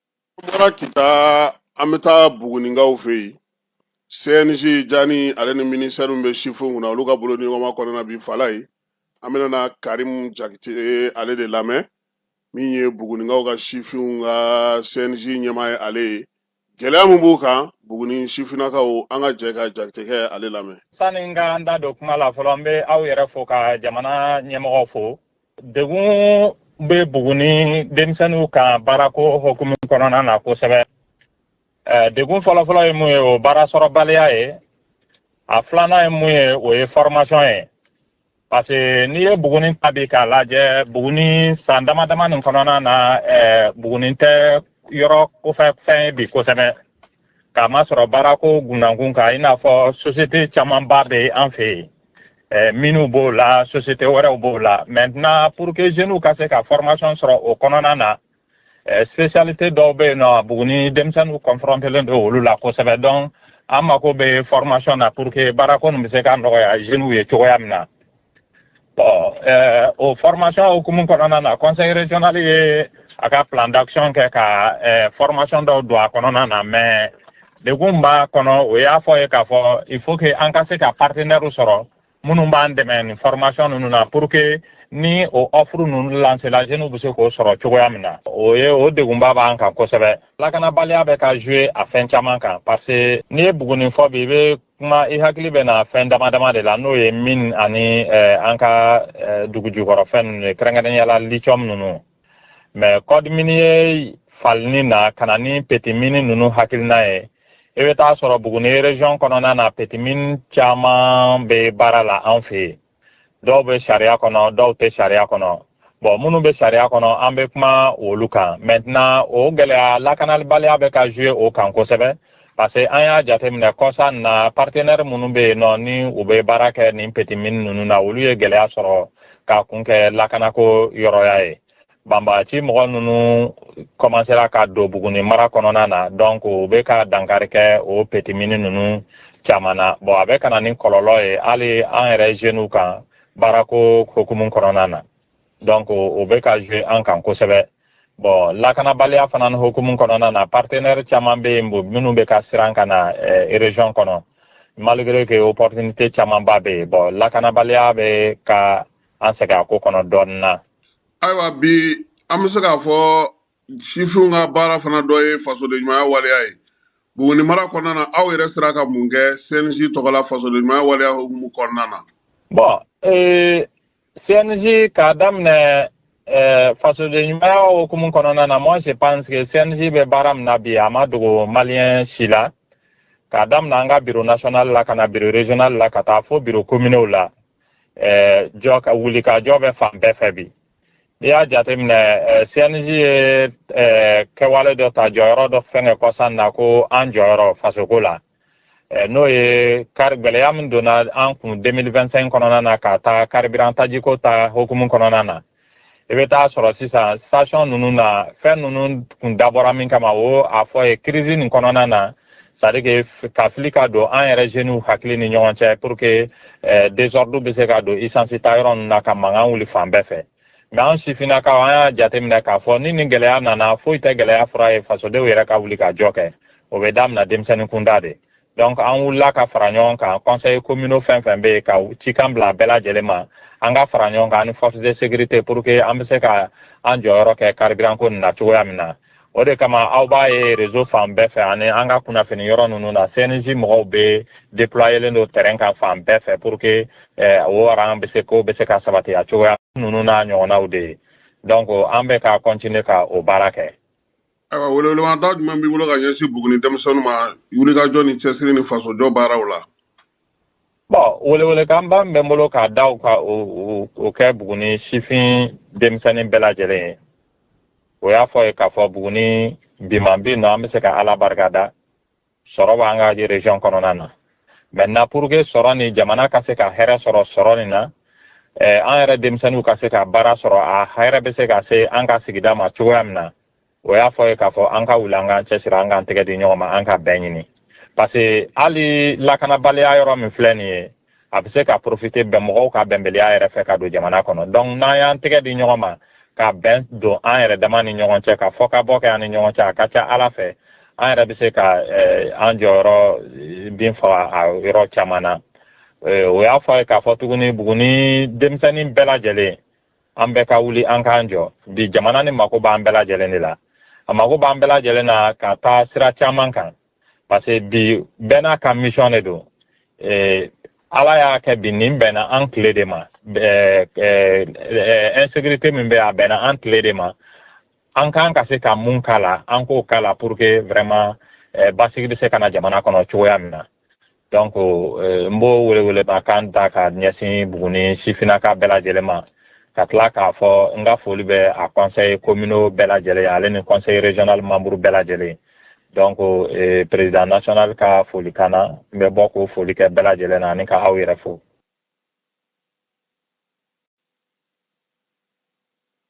bɔra kita an bɛ taa buguninkaw fɛ yen cnj jani ale ni minisitɛri min bɛ sifinw kunna olu ka bolodi ɲɔgɔnma kɔnɔna bi fala ye an bɛna na karimu jakite ale de lamɛn min ye buguninkaw ka sifinw ka cnj ɲɛmaa ye ale ye gɛlɛya min b'u kan buguni sifinnakaw an ka jɛ ka jakitekɛ ale lamɛn sani n ka n da don kuma la fɔlɔ n bɛ aw yɛrɛ fo ka jamana ɲɛmɔgɔ fo degun bɛ buguni denmisɛnninw kan baarako hukumu kɔnɔna na kosɛbɛ degun fɔlɔfɔlɔ ye mun ye o baara sɔrɔbaliya ye a filanan ye mun ye o ye fɔrɔmasɔn ye parce que n'i ye buguni ta bi k'a lajɛ buguni san dama dama nin kɔnɔna na buguni tɛ yɔrɔ kofɛ fɛn ye bi kosɛbɛ k'a masɔrɔ baarako gunnakun kan i n'a fɔ sosiyete camanba bɛ an fɛ yen eh, minnu b'o la sosiyete wɛrɛw b'o la maintenant pour que jeunes ka se ka formation sɔrɔ o kɔnɔna na eh, spécialité dɔw bɛ yen nɔ buguni denmisɛnninw confrontelen don olu la kosɛbɛ donc an mako bɛ formation na pour que baarako nin bɛ se ka nɔgɔya jeunes ye cogoya min na Bon, euh, o formation hukumu kɔnɔna na conseil régional ye a ka plan d'action kɛ ka euh, formation dɔw don a kɔnɔna na mais degun b'a kɔnɔ o y'a fɔ ye k'a fɔ il faut que an ka se ka partenairew sɔrɔ minnu b'an dɛmɛ nin formation ninnu na pour que ni o offre ninnu lancela jeunes bɛ se k'o sɔrɔ cogoya min na o ye o degunba b'an kan kosɛbɛ lakanabaliya bɛ ka jouer a fɛn caman kan parce que n'i ye buguni fɔ bi i bɛ kuma i hakili bɛ na fɛn dama dama de la n'o ye mine ani eh, an ka eh, dugujukɔrɔ fɛn ninnu ye kɛrɛnkɛrɛnya la lithium ninnu mais code minier falenni na ka na ni petimini ninnu hakilina ye i bɛ t'a sɔrɔ buguni region kɔnɔna na petimini caman bɛ baara la an fɛ yen dɔw bɛ sariya kɔnɔ dɔw tɛ sariya kɔnɔ bɔn minnu bɛ sariya kɔnɔ an bɛ kuma olu kan mɛntenan o gɛlɛya lakanabaliya bɛ ka zuwe o kan kosɛbɛ parce que an y'a jateminɛ kɔsa in na partenɛri minnu bɛ yen nɔ ni u bɛ baara kɛ nin petimini ninnu na olu ye gɛlɛya sɔrɔ k'a kun kɛ lakanako yɔrɔya ye banbagaci mɔgɔ ninnu kɔmansera ka don buguni mara kɔnɔna na donc u bɛ ka dankari kɛ o petite mine ninnu caman na bon a bɛ ka na ni kɔlɔlɔ ye hali an yɛrɛ jeunes kan baarako hukumu kɔnɔna na donc o bɛ ka jouer an kan kosɛbɛ bon lakanabaliya fana hukumu kɔnɔna na partenaire caman bɛ yen minnu bɛ ka siran ka na eh, région kɔnɔ malgré que opportunité camanba bɛ yen bon lakanabaliya bɛ ka an sɛgɛn a ko kɔnɔ dɔɔnin na ayiwa bi an bɛ se k'a fɔ sifinw ka baara fana dɔ ye fasodenɲumanya waleya ye buguni mara kɔnɔna na aw yɛrɛ sera ka mun kɛ cnj tɔgɔ la fasodenɲumanya waleya hukumu kɔnɔna na bon ee cnj k'a daminɛ eh, fasodenɲumanya hukumu kɔnɔna na moi je pense que cnj bɛ baara min na bi a ma dogo maliyɛn si la k'a daminɛ an ka biro national la ka na biro régional la ka taa fo biro communaux la jeunes ka wulikajɔ bɛ fan bɛɛ fɛ bi n'i y'a jateminɛ cnj ye kɛwale dɔ ta jɔyɔrɔ dɔ fɛngɛ kɔsa in na ko an jɔyɔrɔ fasoko la n'o ye kari gɛlɛya min donna an kun 2025 kɔnɔna na ka taa carburant tajiko ta hokumu kɔnɔna na i bɛ t'a sɔrɔ sisan station ninnu na fɛn ninnu kun dabɔra min kama o a fɔ ye kirisi nin kɔnɔna na c'est-à-dire que ka fili ka don an yɛrɛ zeniw hakili ni ɲɔgɔn cɛ pour que eh, désordre bɛ se ka don essence ta yɔrɔ ninnu na ka mankan wuli fan bɛɛ fɛ mais an sifinnakaw an y'a jateminɛ k'a fɔ ni nin gɛlɛya nana foyi tɛ gɛlɛya fura ye fasodenw yɛrɛ ka wulikajɔ kɔ o bɛ damina denmisɛnnin kunda de donc an wulila ka fara ɲɔgɔn kan conseil communaux fɛn fɛn bɛ yen ka cikan bila bɛɛ lajɛlen ma an ka fara ɲɔgɔn kan ni force de sécurité pour que an bɛ se ka an jɔyɔrɔ kɛ carburant ko nin na cogoya min na o de kama aw b'a ye réseau fan bɛɛ fɛ ani an ka kunnafoni yɔrɔ ninnu na cnj mɔgɔw bɛ déployelen don terrain kan fan bɛɛ fɛ pour que eh, o rang bɛ se ko bɛ se ka sabati a cogoya ninnu n'a ɲɔgɔnnaw de ye donc an bɛ ka continuer ka o baara kɛ ayiwa welewelemada jumɛn b'i bolo ka ɲɛsin buguni denmisɛnninw ma wulikajɔ ni cɛsiri ni fasojɔ baaraw la bon welewelekanba bɛ n bolo k'a da u ka o kɛ buguni sifin denmisɛnnin bɛɛ lajɛlen ye o y'a fɔ ye k'a fɔ buguni biman bi nɔ an bɛ se ka ala barika da sɔrɔ b'an ka région kɔnɔna na maintenant pour que sɔrɔ ni jamana ka se ka hɛrɛ sɔrɔ sɔrɔ nin na eh, an yɛrɛ denmisɛnninw ka se ka baara sɔrɔ a hɛrɛ bɛ se ka se an ka sigida ma cogoya min na o y'a fɔ ye k'a fɔ an ka wuli an k'an cɛsiri an k'an tɛgɛ di ɲɔgɔn ma an ka bɛn ɲini parce que hali lakanabaliya yɔrɔ min filɛ nin ye a bɛ se ka profiter bɛn mɔgɔw ka bɛnbaliya yɛrɛ fɛ ka don jamana kɔnɔ donc n'an y'an tɛgɛ di ɲɔgɔn ma ka bɛn don an yɛrɛ dama ni ɲɔgɔn cɛ ka fɔ ka bɔ kɛ an ni ɲɔgɔn cɛ a ka ca ala fɛ an yɛrɛ bɛ se ka eh, an jɔyɔrɔ eh, bin fa a yɔrɔ caman na eh, o y'a fɔ a ye k'a fɔ tuguni buguni denmisɛnnin bɛɛ lajɛlen an bɛɛ ka wuli an k'an jɔ bi jamana nin mako b'an bɛɛ lajɛlen de la a mako b'an bɛɛ lajɛlen na ka taa sira caman kan parce que bi bɛɛ n'a ka mission de don eh, ala y'a kɛ bi nin bɛnna an tile de ma eh, eh, eh, insécurité min bɛ a bɛnna an tile de ma an kan ka se ka mun k'a la an k'o k'a la pour que vraiment eh, basigi bɛ se ka na jamana kɔnɔ cogoya min na donc eh, n b'o welewelema kan da ka ɲɛsin buguni sifinnaka bɛɛ lajɛlen ma ka tila k'a fɔ n ka foli bɛ a conseil communaux bɛɛ lajɛlen ye ale ni conseil régional membre bɛɛ lajɛlen ye donc eh, président national ka folikan na n bɛ bɔ k'o foli kɛ bɛɛ lajɛlen na ani ka aw yɛrɛ fo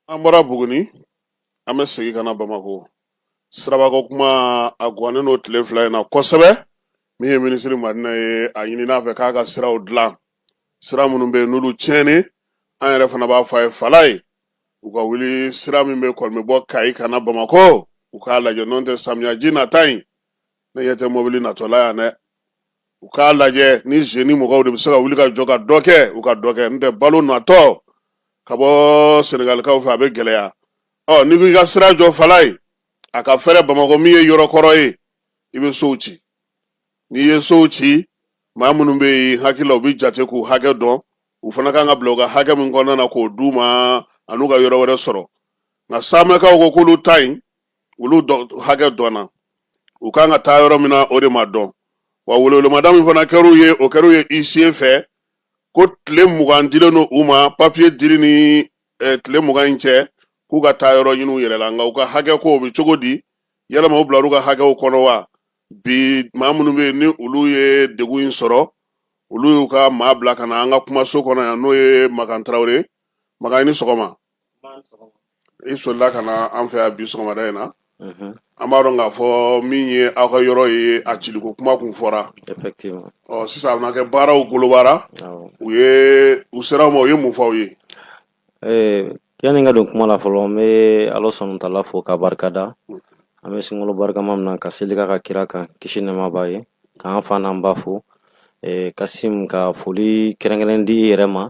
an bɔra buguni an bɛ segin ka na bamakɔ sirabako kuma a gannen don tile fila in na kosɛbɛ min ye minisiri madina ye a ɲinin'a fɛ k'a ka siraw dilan sira minnu bɛ yen n'olu tiɲɛni an yɛrɛ fana b'a fɔ a ye falayi u ka wuli sira min bɛ kɔni bɛ bɔ kayi ka na bamakɔ u k'a lajɛ n'o tɛ samiyaji nata in ne ɲɛ tɛ mobili natɔ la yan dɛ u k'a lajɛ ni génie mɔgɔw de bɛ se ka wuli ka jɔ ka dɔ kɛ u ka dɔ kɛ n tɛ balo natɔ ka bɔ senegalikaw fɛ a bɛ gɛlɛya ɔ n'i ko i ka sira jɔ falayi a ka fɛrɛ bamakɔ min ye yɔrɔ kɔrɔ ye i bɛ sow ci n'i ye sow ci maa minnu bɛ yen hakili la u bɛ jate k'u hakɛ dɔn u fana kan ka bila u ka hakɛ min kɔnɔna na k'o d'u ma an'u ka yɔrɔ wɛrɛ sɔrɔ nka samɛkaw ko k'olu ta in olu hakɛ dɔnna u kan ka taa yɔrɔ min na o de ma dɔn wa welewelemada min fana kɛr'u ye o kɛr'u ye huissier fɛ ko tile mugan dilen don u ma papiye dili ni eh, tile mugan in cɛ k'u ka taa yɔrɔ ɲini u yɛrɛ la nka u ka hakɛ ko o bɛ cogo di yalama u bilar'u ka hakɛw kɔnɔ wa bi maa minnu bɛ yen ni olu ye degun in sɔrɔ olu y'u ka maa bila ka na an ka kumaso kɔnɔ yan n'o ye makan tarawele makan i ni sɔgɔma i solila ka na an fɛ yan bi sɔgɔmada in na an b'a dɔn k'a fɔ min ye aw ka yɔrɔ ye a ciliko kuma kun fɔra ɔ sisan a bɛna kɛ baaraw golobara u ye u sera aw ma u ye mun fɔ aw ye yanni n ka don kuma la fɔlɔ n bɛ ala subahana wa tala fo ka barika da an bɛ sunkalo barikama min na ka seli k'a ka kira kan kisi nɛɛma b'a ye k'an fa n'an ba fo kasim ka foli kɛrɛnkɛrɛn di i yɛrɛ ma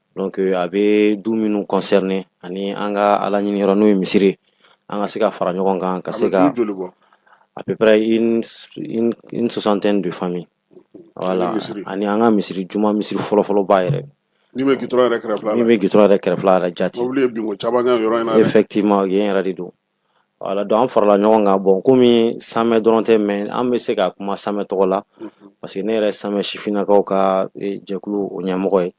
Donc euh, a bɛ du minnu concerner ani an ka Ala ɲini yɔrɔ n'o ye misiri ye, an ka se ka fara ɲɔgɔn kan ka se ka du joli bɔ? à peu près une une une soixantaine de familles voilà misiri. ani an ka misiri juma misiri fɔlɔfɔlɔba yɛrɛ Min bɛ gitɔrɔn yɛrɛ kɛrɛfɛla la. min bɛ gitɔrɔn yɛrɛ kɛrɛfɛla yɛrɛ jati. Mobili ye binko caman kɛ yɔrɔ in na dɛ. effectivement yen yɛrɛ de don voilà donc an farala ɲɔgɔn kan bon komi samɛ dɔrɔn tɛ mais an bɛ se ka kuma samɛ tɔgɔ la parce que ne yɛrɛ samɛ sifinnakaw ka eh, jɛkulu o ɲɛmɔgɔ ye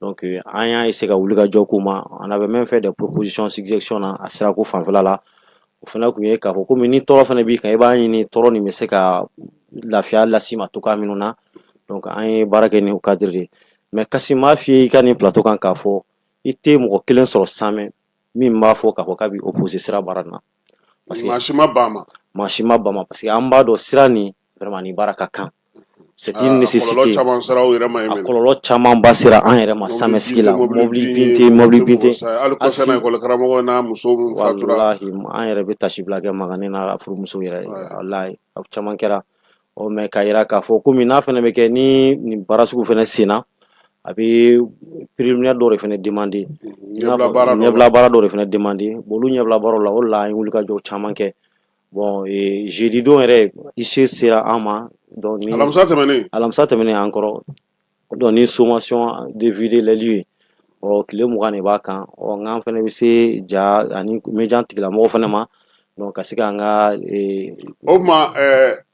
donc an y'a essayer ka wuli ka jɔ k'u ma on avait même fait des propositions suggestions na a sirako fanfɛla la o fana tun ye k'a fɔ komi ni tɔɔrɔ fana b'i kan i b'a ɲini tɔɔrɔ nin bɛ se ka lafiya las'i ma cogoya minnu na donc an ye baara kɛ ni o cadre de ye mais Kasim m'a f'i ye i ka nin plateau kan k'a fɔ i tɛ mɔgɔ kelen sɔrɔ samɛ min b'a fɔ k'a fɔ k'a bɛ opposer sira baara nin na parce que maa si ma ban a ma maa si ma ban a ma parce que an b'a dɔn sira nin nin baara ka kan c'est une nécessité a kɔlɔlɔ camanba sera an yɛrɛ ma samɛsigi la mobili bin tɛ mobili bin tɛ hali kɔsa in na école karamɔgɔ n'a muso min fatura walahi an yɛrɛ bɛ tasibila kɛ magani n'a furumuso yɛrɛ ye walahi a caman kɛra ɔ mais k'a yira k'a fɔ komi n'a fana bɛ kɛ ni nin baara sugu fana senna a bɛ préliminaire dɔw de fana demander ɲɛbila baara dɔw de fana demander bon olu ɲɛbila baaraw la o de la an ye wulikajɔ caman kɛ Bon jeudi don yɛrɛ huissier sera an ma donc alamisa tɛmɛnen alamisa tɛmɛnen an kɔrɔ donc ni sommation de vider les lieux ɔ tile mugan de b'a kan ɔ nka an fana bɛ se ja ani mɛnjan tigilamɔgɔw fana ma donc ka se an ka o tuma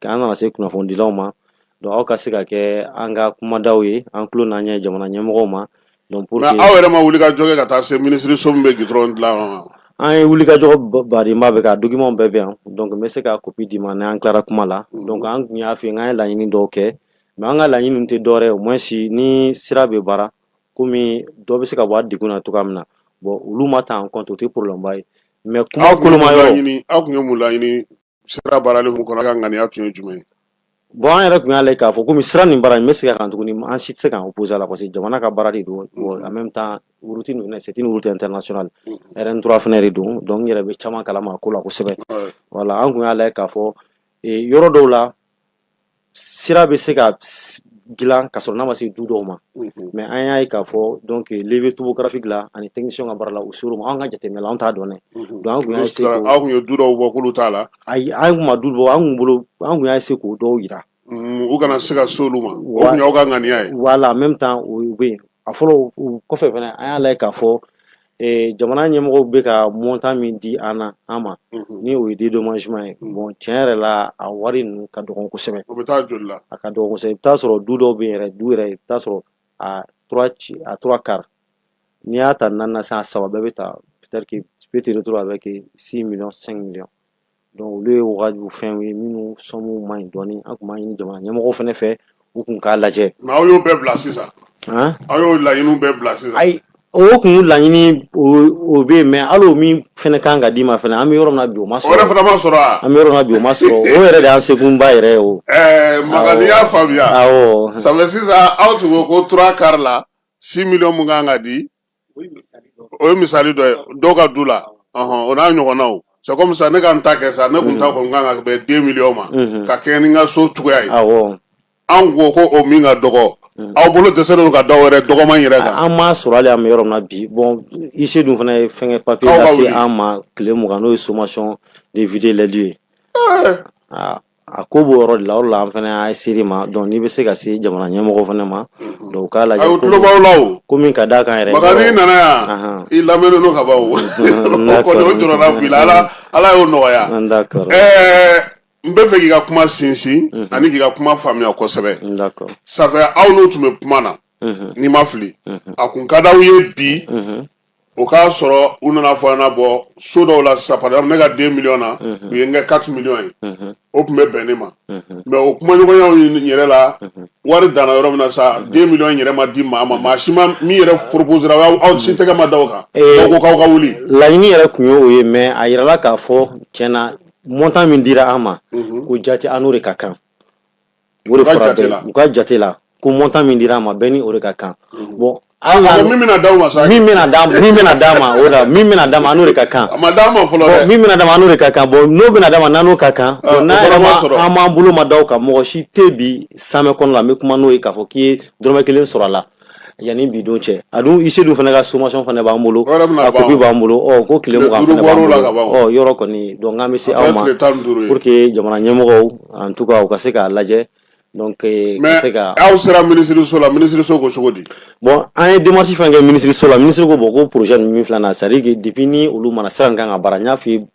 ka an nana se kunnafonidilaw ma donc aw ka se ka kɛ an ka kumadaw ye an tulo n'an ɲɛ jamana ɲɛmɔgɔw ma donc pour que mais aw yɛrɛ ma wuli ka jɔ kɛ ka taa se minisiriso min bɛ gudɔrɔn dilan ma an ye wuli ka jɔ badenba bɛ ka dokimanw bɛɛ bɛ yan donc n bɛ se ka kopi d'i ma n'an tilara kuma la mhm. donc an tun y'a f'i ye k'an ye laɲini dɔw kɛ mais an ka laɲini tɛ dɔwɛrɛ ye au moins ni sira bɛ baara komi dɔ bɛ se ka bɔ a degun na cogoya min na bon olu ma ta en compte o tɛ problème ba ye mais kuma koloma yɔrɔ aw tun ye mun laɲini sira baarali hukumu kɔnɔ aw ka ŋaniya tun ye jumɛn ye bon an yɛrɛ tun y'a lajɛ k'a fɔ komi sira nin baara in n bɛ segin a kan tuguni an si tɛ se k'an opposer a la parce que jamana ka baara de don en même temps route nin fana c'est une route internationale RN3 fana de don donc n yɛrɛ bɛ caman kalama a ko la kosɛbɛ voilà an tun y'a lajɛ k'a fɔ yɔrɔ dɔw la sira bɛ se ka dilan ka sɔrɔ n'a ma se du dɔw ma mɛ an y'a ye k'a fɔ dɔn bɛ tubu gafin dilan ani tɛ nisɔn ka baara la u s ma an ka jate tɛmɛ an t'a dɔn aw ye du bɔ t'a la ayi an tun du bɔ an bolo an tun y'a se k'o dɔw jira u kana se ka so ma ka ŋaniya ye wala an bɛ taa o bɛ yen a fɔlɔ kɔfɛ fana an y'a la k'a fɔ Ee jamana ɲɛmɔgɔw bɛ ka montant min di an na an ma unhun ni o ye dédommagement ye unhun bon tiɲɛ yɛrɛ la a wari ninnu ka dɔgɔn kosɛbɛ o bɛ taa joli la a ka dɔgɔn kosɛbɛ i be taa sɔrɔ du dɔw be yen yɛrɛ du yɛrɛ i be taa sɔrɔ a 3 ci a 3 quarts n'i y'a ta 4 na san a 3 bɛɛ be ta peut-être que tu peux te retrouver avec 6 millions 5 millions olu ye wagadu fɛnw ye minnu sɔnmu man ɲi dɔɔnin an tun b'a ɲini jamana ɲɛmɔgɔw fana fɛ u kun k'a lajɛ nka aw y'o bɛɛ bila sisan aw y'o laɲiniw bɛɛ bila sisan ayi o kun laɲini o bɛ yen mais hali o min fana kan ka d'i ma fana an bɛ yɔrɔ min na bi o ma sɔrɔ o yɛrɛ fana ma sɔrɔ wa an bɛ yɔrɔ min na bi o ma sɔrɔ o yɛrɛ de y'an sekunba yɛrɛ ye o ɛɛ Makan n'i y'a faamuya awɔ ça fait sisan aw tun ko ko 3 quarts la 6 millions mun kan ka di o ye misali dɔ ye dɔw ka du la o n'a ɲɔgɔnnaw c'est comme ça ne ka n ta kɛ sa ne kun ta kɔni kan ka bɛn 2 millions ma ka kɛɲɛ ni n ka so cogoya ye an ko ko o min ka dɔgɔ aw bolo dɛsɛlen ka dɔw wɛrɛ dɔgɔman yɛrɛ kan an m'a sɔrɔ hali an bɛ yɔrɔ min na bi bon huissier dun fana ye fɛnkɛ papier lase an ma tile mugan n'o ye sommation de vider les lieux A ko b'o yɔrɔ de la o de la an fana y'a se i ma donc n'i bɛ se ka se jamana ɲɛmɔgɔw fana ma donc u k'a lajɛ Ayi u tulo b'aw la o ko min ka d'a kan yɛrɛ Makan n'i nana yan Anhan i lamɛnnen don ka ban o o d'accord kɔni o jɔrɔna b'i la Ala Ala y'o nɔgɔya d'accord ɛɛ n bɛ fɛ k'i ka kuma sinsin ani k'i ka kuma faamuya kosɛbɛ d'accord ça fait aw n'i tun bɛ kuma na ni n ma fili a kun ka d'aw ye bi o k'a sɔrɔ u nana fɔ an bɔ so dɔw la sisan par exemple ne ka 2 millions na u ye n kɛ 4 millions ye o tun bɛ bɛn ne ma mais o kumaɲɔgɔnyaw yɛrɛ la wari danna yɔrɔ min na sa 2 millions yɛrɛ ma di maa ma maa si ma min yɛrɛ proposera aw si tɛgɛ ma da o kan ko k'aw ka wuli laɲini yɛrɛ tun ye o ye mais a yirala k'a fɔ tiɲɛ na montant min dira an ma ko jate an n'o de ka kan O de fɔra bɛɛ ye u ka jate la ko montant min dira an ma bɛɛ ni o de ka kan mhm. bon ah, min bɛna d'aw ma sa min bɛna d'a ma min bɛna d'a ma o la min bɛna d'a ma n'o de ka kan a ma d'a ma fɔlɔ dɛ min bɛna d'a ma n'o de ka kan bon n'o bɛna d'a ma n'o ka kan ah, n'a yɛrɛ ma an m'an bolo ma da o kan mɔgɔ si tɛ bi Samɛ kɔnɔ la n bɛ kuma n'o ye k'a fɔ k'i ye dɔrɔmɛ kelen sɔrɔ a la yanni bi don cɛ a dun huissier dun fana ka sommation fana b'an bolo a copie b'an bolo ɔ ko tile mugan yɔrɔ kɔni donc an bɛ se aw ma pour que jamana ɲɛmɔgɔw en tout cas u ka se k'a lajɛ donc nka aw sera minisiriso la minisiriso ko cogo di bon an ye démarche fɛn kɛ minisiriso la minisiri ko bon ko projet min filanan c'est à dire que depuis ni olu mana sira nin ka baara n y'a fɔ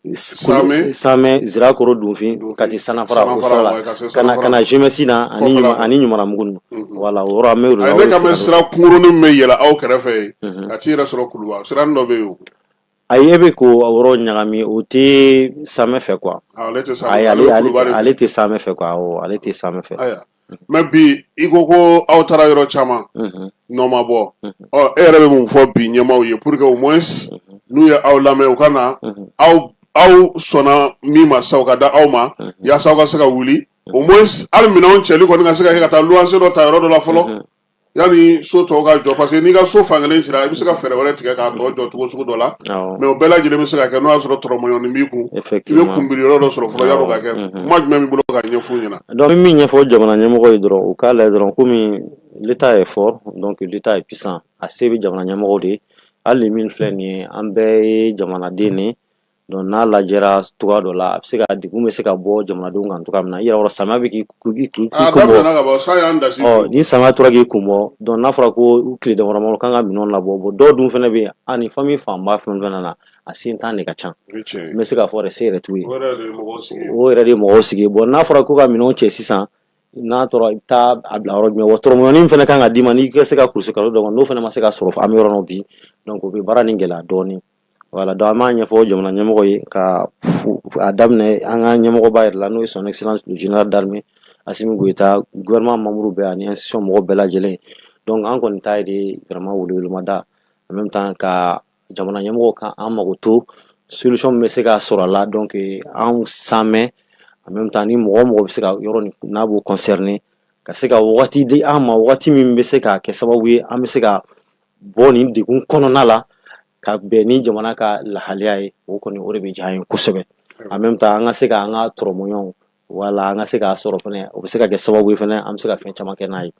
Sirakɔrɔ Dunfin Kati Sananfara ka na GMS na ani ani Ɲɔmiranbugu wala bɛ sira kunkurunin bɛ yɛlɛ aw kɛrɛfɛ yen ka t'i yɛrɛ sɔrɔ Kuluba siranin dɔ bɛ yen ayi e bɛ k'o yɔrɔ ɲagami o tɛ Samɛ fɛ quoi ale tɛ Samɛ fɛ ale tɛ Samɛ fɛ mais bi i ko ko aw taara yɔrɔ caman nɔ ma bɔ ɔ e yɛrɛ bɛ mun fɔ bi ɲɛmaaw ye pour que au moins n'u ye aw lamɛn u ka na aw aw sɔnna min ma sa u ka da aw ma yaasa aw ka se ka wuli au moins hali minɛnw cɛli kɔni ka se ka kɛ ka taa luwanse dɔ ta yɔrɔ dɔ la fɔlɔ yanni so tɔw ka jɔ parce que n'i ka so fankelen cira i bɛ se ka fɛɛrɛ wɛrɛ tigɛ k'a tɔ jɔ cogo sugu dɔ la awɔ mais o bɛɛ lajɛlen bɛ se ka kɛ n'o y'a sɔrɔ tɔrɔmɔɲɔni b'i kun i bɛ effectivement kunbiri yɔrɔ dɔ sɔrɔ fɔlɔ yan'o ka kɛ Awɔ, mhm. kuma jumɛn b'i bolo ka ɲɛf'u ɲɛna donc n bɛ min ɲɛfɔ jamana ɲɛmɔgɔ ye dɔrɔn u k'a lajɛ dɔrɔn komi l'état est fort donc l'état est puissant a se bɛ jamana ɲɛmɔgɔw de ye hali nin min filɛ nin ye an bɛɛ ye jamanaden de ye Donc n'a lajɛra cogo dɔ la a bɛ se ka degun bɛ se ka bɔ jamanadenw kan cogoya min na yɔrɔ samiya bɛ k' ni samiya tora k'i kun bɔ donc n'a fɔra ko tile dama kan ka minɛn labɔ bon dɔw dun fana bɛ yen ni famille fanba fɛn fɛn na a sentan de ka ca n bɛ se k'a fɔ se yɛrɛ t'u ye o yɛrɛ de ye mɔgɔw sigi bon n'a fɔra ko ka minɛn cɛ sisan n'a tora i taa a bila yɔrɔ jumɛn tɔrɔmɔɲɔni fana kan ka d'i ma n'i se ka kulu kalo dɔ n'o fana ma se ka sɔrɔ an bɛ yɔrɔ min bi o bɛ baara nin gɛlɛya dɔɔnin Wala don an b'a ɲɛfɔ jamana ɲɛmɔgɔ ye ka a daminɛ an ka ɲɛmɔgɔba yɛrɛ la n'o ye son sinanasi jna da a simi gta gma mamuru bɛɛ ani somɔgɔw bɛɛ lajɛlen dɔnku an kɔni ta de gma wumada an bɛ taa ka jamana ɲɛmɔgɔ kan an mago to sosɔn bɛ se k ka sɔrɔ a la dɔn kɛ an san an bɛ taa ni mɔgɔ mɔgɔ bɛ se ka yɔrɔ n'a b'u kɔnsɛri ka se ka di an ma waati min bɛ se ka kɛ sababu ye an bɛ se ka bɔ nin degun kɔnɔna la ka bɛn ni jamana ka lahalaya ye o kɔni o de bɛ diya an ye kosɛbɛ en même temps an ka se ka an ka tɔrɔmɔɲɔw wala an ka se k'a sɔrɔ fana o bɛ se ka kɛ sababu ye fana an bɛ se ka fɛn caman kɛ n'a ye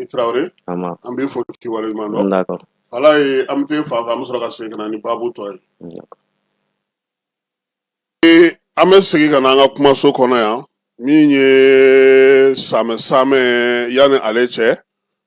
i tarawele an b'i fo k'i waleɲuman dɔn ala ye an bɛ fa an bɛ sɔrɔ ka segin ka na ni baabu tɔ ye Ee an bɛ segin ka na an ka kumaso kɔnɔ yan min ye samɛ samɛ yanni ale cɛ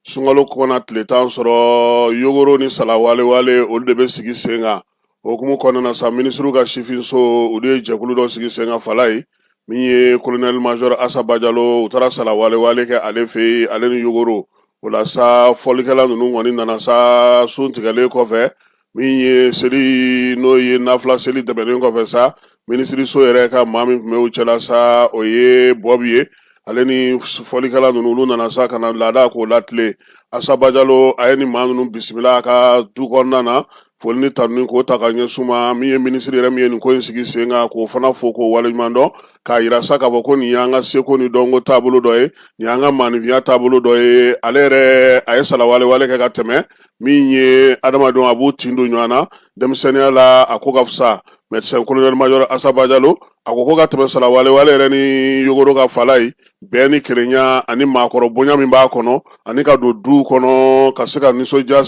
sunkalo kɔnɔna tile tan sɔrɔ yogoro ni salawalewale olu de bɛ sigi sen kan o hukumu kɔnɔna sa minisiriw ka sifinso olu ye jɛkulu dɔ sigi sen kan fala ye min ye colonel major asa bajalo u taara salawalewale kɛ ale fɛ yen ale ni yogoro o la sa fɔlikɛla ninnu kɔni nana sa sun tigɛlen kɔfɛ min ye seli n'o ye nafila seli tɛmɛnen kɔfɛ sa minisiriso yɛrɛ ka maa min tun bɛ u cɛla sa o ye bɔbi ye ale ni fɔlikɛla ninnu olu nana sa ka na laada k'o latilen asa bajalo a ye nin maa ninnu bisimila a ka du kɔnɔna na foli ni tanuni k'o ta ka ɲɛsin maa min ye minisiri yɛrɛ min ye nin ko in sigi sen kan k'o fana fo k'o waleɲuman dɔn k'a yira sa k'a fɔ ko nin y'an ka seko ni dɔnko taabolo dɔ ye nin y'an ka maanifinya taabolo dɔ ye ale yɛrɛ a ye salawalewale kɛ ka tɛmɛ min ye adamadenw a b'u tin don ɲɔgɔn na denmisɛnninya la a ko ka fisa mɛdisɛn kolonɛli majɔrɔ asa bajalo a ko ko ka tɛmɛ salawalewale yɛrɛ ni yogoro ka falaye bɛn ni kelenya ani maakɔrɔ bonya min b'a kɔnɔ ani ka don duw kɔnɔ ka se ka nisɔndiya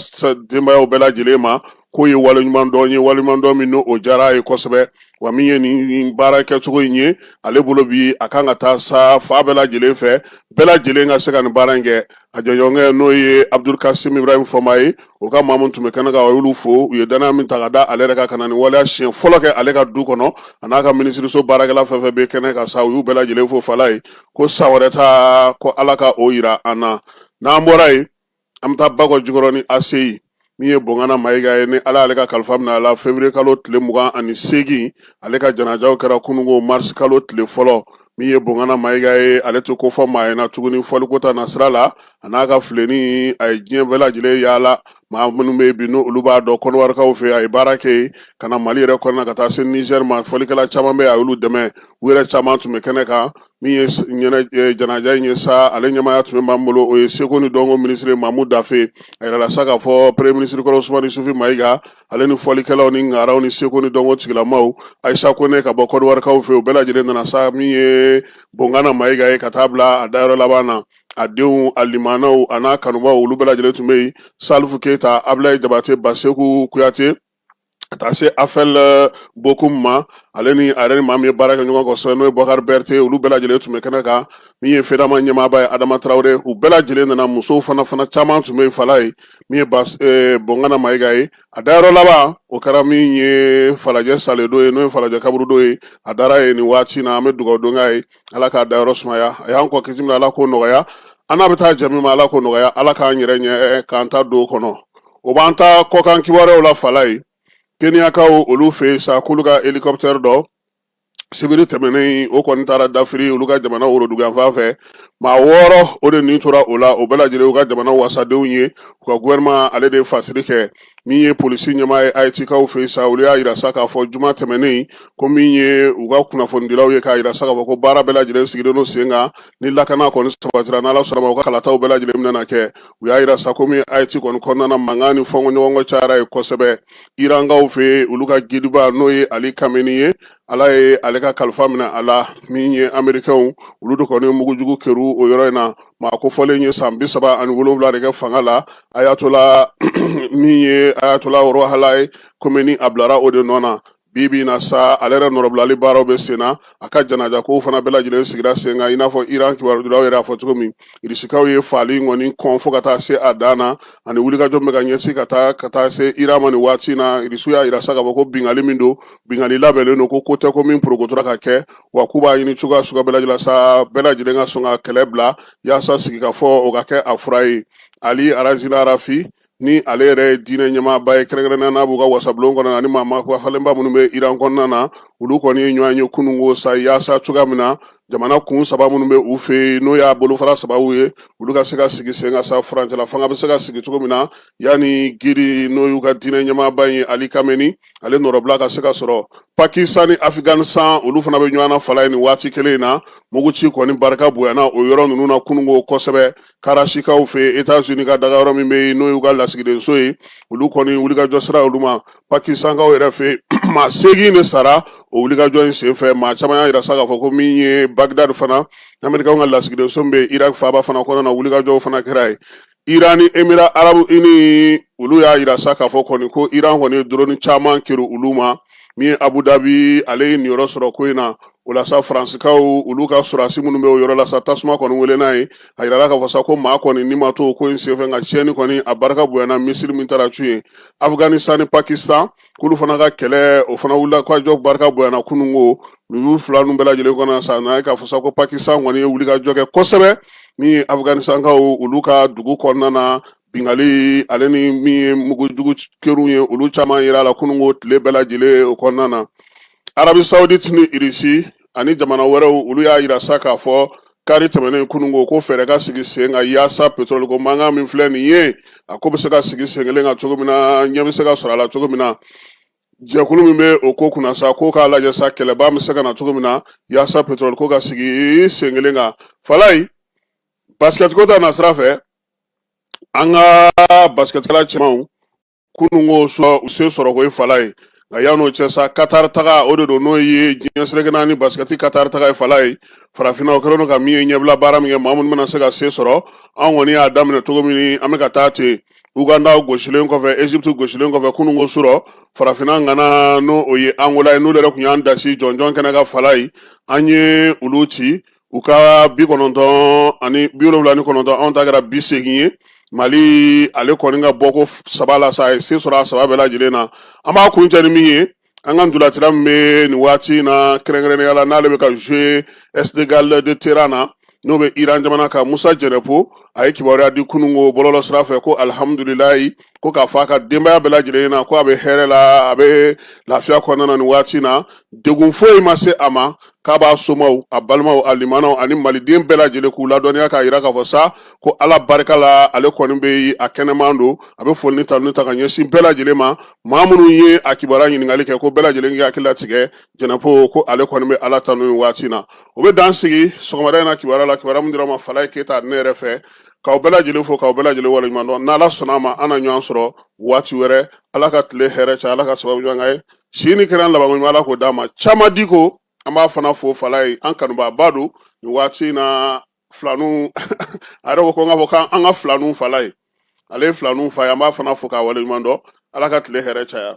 denbayaw bɛɛ lajɛlen ma k'o ye waleɲuman dɔn ye waleɲuman dɔn min n'o diyara a ye kosɛbɛ wa min ye nin baara kɛcogo in ye ale bolo bi a kan ka taa sa fan bɛɛ lajɛlen fɛ bɛɛ lajɛlen ka se ka nin baara in kɛ a jɛɲɔgɔnkɛ n'o ye abudul kasim ibrahim fɔnba ye o ka maa min tun bɛ kɛnɛ kan a y'olu fo u ye dannaya min ta ka da ale yɛrɛ kan ka na nin waleya siɲɛ fɔlɔ kɛ ale ka du kɔnɔ a n'a ka minisiriso baarakɛla fɛn fɛn bɛ kɛnɛ kan sa u y'u bɛɛ lajɛlen fo falaye ko san wɛrɛ ta ko ala ka o yira an na n'an bɔra yen an bɛ taa bakɔ jikɔrɔni aseyi min ye bongana mayiga ye ni ala ale ka kalifa minɛ a la février kalo tile mugan ani seegin ale ka janajaw kɛra kunungo marisi kalo tile fɔlɔ min ye bongana mayiga ye ale tɛ kofɔ maa ɲɛ na tuguni fɔliko ta nasira la a n'a ka fileni a ye diɲɛ bɛɛ lajɛlen yaala maa minnu bɛ bi n'olu b'a dɔn kɔnɔwarikaw fɛ a ye baara kɛ yen ka na mali yɛrɛ kɔnɔna ka taa se nizɛri ma fɔlikɛla caman bɛ yen a y'olu dɛmɛ u yɛrɛ caman tun bɛ kɛnɛ kan min ye janaja in ye sa ale ɲɛmaaya tun bɛ min bolo o ye seko ni dɔnko minisiri mamu dafe a yirala sa k'a fɔ premye minisiri kɔrɔ usumani isufi mayiga ale ni fɔlikɛlaw ni ngaraw ni seko ni dɔnko tigilamaw ayisa kone ka bɔ kɔdiwarikaw fɛ u bɛɛ lajɛlen nana sa min ye bongana mayiga ye ka taa bila a dayɔrɔ laban na a denw a limanaw a n'a kanubaw olu bɛɛ lajɛlen tun bɛ yen salifu keyita abulayi jabate baseku kuyate ka taa se afɛl eh, bokum ma ale ni a yɛrɛ ni maa min ye baara kɛ ɲɔgɔn kosɛbɛ n'o ye bakari bɛrite olu bɛɛ lajɛlen tun bɛ kɛnɛ kan min ye fedama ɲɛmaaba ye adama tarawele u bɛɛ lajɛlen nana musow fana fana caman tun bɛ yen falaye min ye eh, bongana mayiga ye a dayɔrɔ laban o kɛra min ye falajɛ sɛlɛdo ye n'o ye falajɛ kaburudo ye a dara yen nin waati na an bɛ dugawu don k'a ye ala k'a dayɔrɔ sumaya a y'an kɔn ka se min ala k'o nɔgɔya an n'a bɛ taa jɛ min ma ala k'o nɔgɔya ala k'an yɛrɛ ɲɛ eh, k'an ta don o kɔnɔ o b'an ta kɔkan kibaruyaw la falaye keniyakaw olu fɛ yen sa k'olu ka hélicoptère dɔ sibiri tɛmɛnen o kɔni taara dafiri olu ka jamana woroduguyanfan fɛ maa wɔɔrɔ o de nin tora o la o bɛɛ lajɛlen u ka jamana wasadenw ye u ka gouvernement ale de fasiri kɛ min ye polisi ɲɛmaa ye ayitikaw fɛ sa olu y'a yira sa k'a fɔ juma tɛmɛnen ko min ye u ka kunnafonidilaw ye k'a yira sa k'a fɔ ko baara bɛɛ lajɛlen sigilen don sen kan ni lakana kɔni sabatira n'ala sɔnn'a ma u ka kalataw bɛɛ lajɛlen bɛna kɛ u y'a yira sa komi ayiti kɔni kɔnɔna na mankan ni fɔnkɔɲɔgɔnkɔ cayara yen kosɛbɛ irankaw fɛ yen olu ka gidiba n'o ye ali kameni ye ala ye ale ka kalifa minɛ a la min ye amerikɛnw olu de kɔni mugujugu kerun o yɔrɔ in na maa kofɔlen ye san bi saba ani wolonwula de kɛ fanga la ayatola min ye ayatola rohala ye komeni a bilara o de nɔ na bi bi in na sa ale yɛrɛ nɔrɔbilali baaraw bɛ sen na a ka janaja kow fana bɛɛ lajɛlen sigira sen kan i n'a fɔ iran kibarudilaw yɛrɛ y'a fɔ cogo min irisikaw ye faali in kɔni kɔn fo ka taa se a dan na ani wulikajɔ min bɛ ka ɲɛsin ka taa ka taa se iran ma nin waati in na irisiw y'a yira sa k'a fɔ ko bingali min don bingali labɛnnen don ko ko tɛ ko min porokotora ka kɛ wa k'u b'a ɲini cogoya suguya bɛɛ lajɛlen sa bɛɛ lajɛlen ka sɔn ka kɛlɛ bila yaasa sigikafɔ o ka kɛ a fura ye ali arazina arafi ni ale yɛrɛ ye diinɛ ɲɛmaaba ye kɛrɛnkɛrɛnnenya n'a b'u ka wasabulon kɔnɔ ani maa falenba minnu bɛ iran kɔnɔna na olu kɔni ye ɲɔgɔn ye kununko sa yaasa cogoya min na jamana kun saba minnu bɛ u fɛ yen n'o y'a bolofara sababu ye olu ka se ka sigi sen kan sa furancɛla fanga bɛ se ka sigi cogo min na yanni guide n'o y'u ka diinɛ ɲɛmaaba ye ali khamenei ale nɔrɔbila ka se ka sɔrɔ pakistan ni afghanistan olu fana bɛ ɲɔgɔn na falaye nin waati kelen in na muguci kɔni barika bonyana o yɔrɔ ninnu na kununko kosɛbɛ karachikaw fɛ yen etats unis ka daga yɔrɔ min bɛ yen n'o y'u ka lasigidenso ye olu kɔni wulikajɔ sira olu ma pakistankaw yɛrɛ fɛ yen maa seegin de sara o wulikajɔ in senfɛ maa caman y'a yira sa k'a fɔ ko min ye bagdad fana amerikanw ka lasigidenso min bɛ yen irak faaba fana kɔnɔna na wulikajɔw fana kɛra yen iran ni emirats arabes unis olu y'a yira sa k'a fɔ kɔni ko iran kɔni ye doroni caman keri olu ma min ye abu dabi ale ye niyɔrɔ sɔrɔ ko in na o la sa faransikaw olu ka sɔrɔdasi minnu bɛ o yɔrɔ la sa tasuma kɔni welenna yen a yirala k'a fɔ sa ko maa kɔni ni ma to ko in senfɛ nka tiɲɛni kɔni a barika bonyana misili min taara cun yen afghanistan ni pakistan k'olu fana ka kɛlɛ o fana wulikajɔ barika bonyana kununko ninnu fila ninnu bɛɛ lajɛlen kɔnɔ sa n'a ye k'a fɔ sa ko pakistan kɔni ye wulikajɔ kɛ kosɛbɛ min ye afghanistankaw olu ka dugu kɔnɔna na bingali ale ni min ye mugujugu keriw ye olu caman yirala kununko tile bɛɛ lajɛlen o kɔnɔna na arabi saudite ni irisi ani jamana wɛrɛw olu y'a yira sa k'a fɔ kari tɛmɛnen kununko ko fɛɛrɛ ka sigi sen kan yaasa petroli ko mankan min filɛ nin ye a ko bɛ se ka sigi sen kelen kan cogo min na ɲɛ bɛ se ka sɔrɔ a la cogo min na jɛkulu min bɛ o ko kunna sa k'o k'a lajɛ sa kɛlɛba bɛ se ka na cogo min na yaasa petroli ko ka sigi sen kelen kan falaye basikɛtiko ta na sira fɛ an ka basikɛtikɛla cɛmanw kununko surɔ u se sɔrɔ ko ye falaye nka yan'o cɛ sa katari taga o de don n'o ye diɲɛ seleke naani basikɛti katari taga ye falaye farafinna o kɛlen don ka min ye ɲɛbila baara min kɛ maa minnu bɛna se ka se sɔrɔ an kɔni y'a daminɛ cogo min an bɛ ka taa ten uganda gosilen kɔfɛ egypte gosilen kɔfɛ kununko surɔ farafinna ŋana n'o o ye angola ye n'olu yɛrɛ tun y'an dasi jɔnjɔn kɛnɛ kan falaye an ye olu ci u ka bi kɔnɔntɔn ani bi wolonwula ni kɔnɔntɔn anw ta kɛra bi segin ye mali ale kɔni ka bɔ ko saba la sa a ye se sɔrɔ a saba bɛɛ lajɛlen na an b'a kuncɛ ni min ye an ka ntolatila min bɛ nin waati in na kɛrɛnkɛrɛnnenya la n'ale bɛ ka jouer esteghlal de téhéran na n'o bɛ iran jamana kan musa jɛnɛpo a ye kibaruya di kunun ko bɔlɔlɔ sira fɛ ko alihamudulilayi ko k'a fɔ a ka denbaya bɛɛ lajɛlen na ko a bɛ hɛrɛ la a bɛ lafiya kɔnɔna na nin waati na degun foyi ma se a ma k'a b'a somaw a balimaw a limanaw ani maliden bɛɛ lajɛlen k'u ladɔnniya k'a yira k'a fɔ sa ko ala barika la ale kɔni bɛ a kɛnɛman don a bɛ foli ni tanuni ta ka ɲɛsin bɛɛ lajɛlen ma maa minnu ye a kibaruya ɲininkali kɛ ko bɛɛ lajɛlen k'i hakili latigɛ jɛnɛpo ko ale kɔni bɛ ala tanu nin waati na o bɛ dan sigi sɔgɔmada in na kibaruya la kibaruya min dira ma falaye keyita ne yɛrɛ fɛ k'aw bɛɛ lajɛlen fo k'aw bɛɛ lajɛlen waleɲuman dɔn n'ala sɔnna a ma an na ɲɔgɔn sɔrɔ waati wɛrɛ ala ka tile hɛrɛ caya ala ka sababu ɲɔgɔn ye si ni kɛnɛya labanko ɲuman ala k'o dama caman di ko an b'a fana fo falaye an kanubaaba don nin waati in na filanu a yɛrɛ ko ko n k'a fɔ k'an ka filanu falaye ale ye filanu fa ye an b'a fana fo k'a waleɲuman dɔn ala ka tile hɛrɛ caya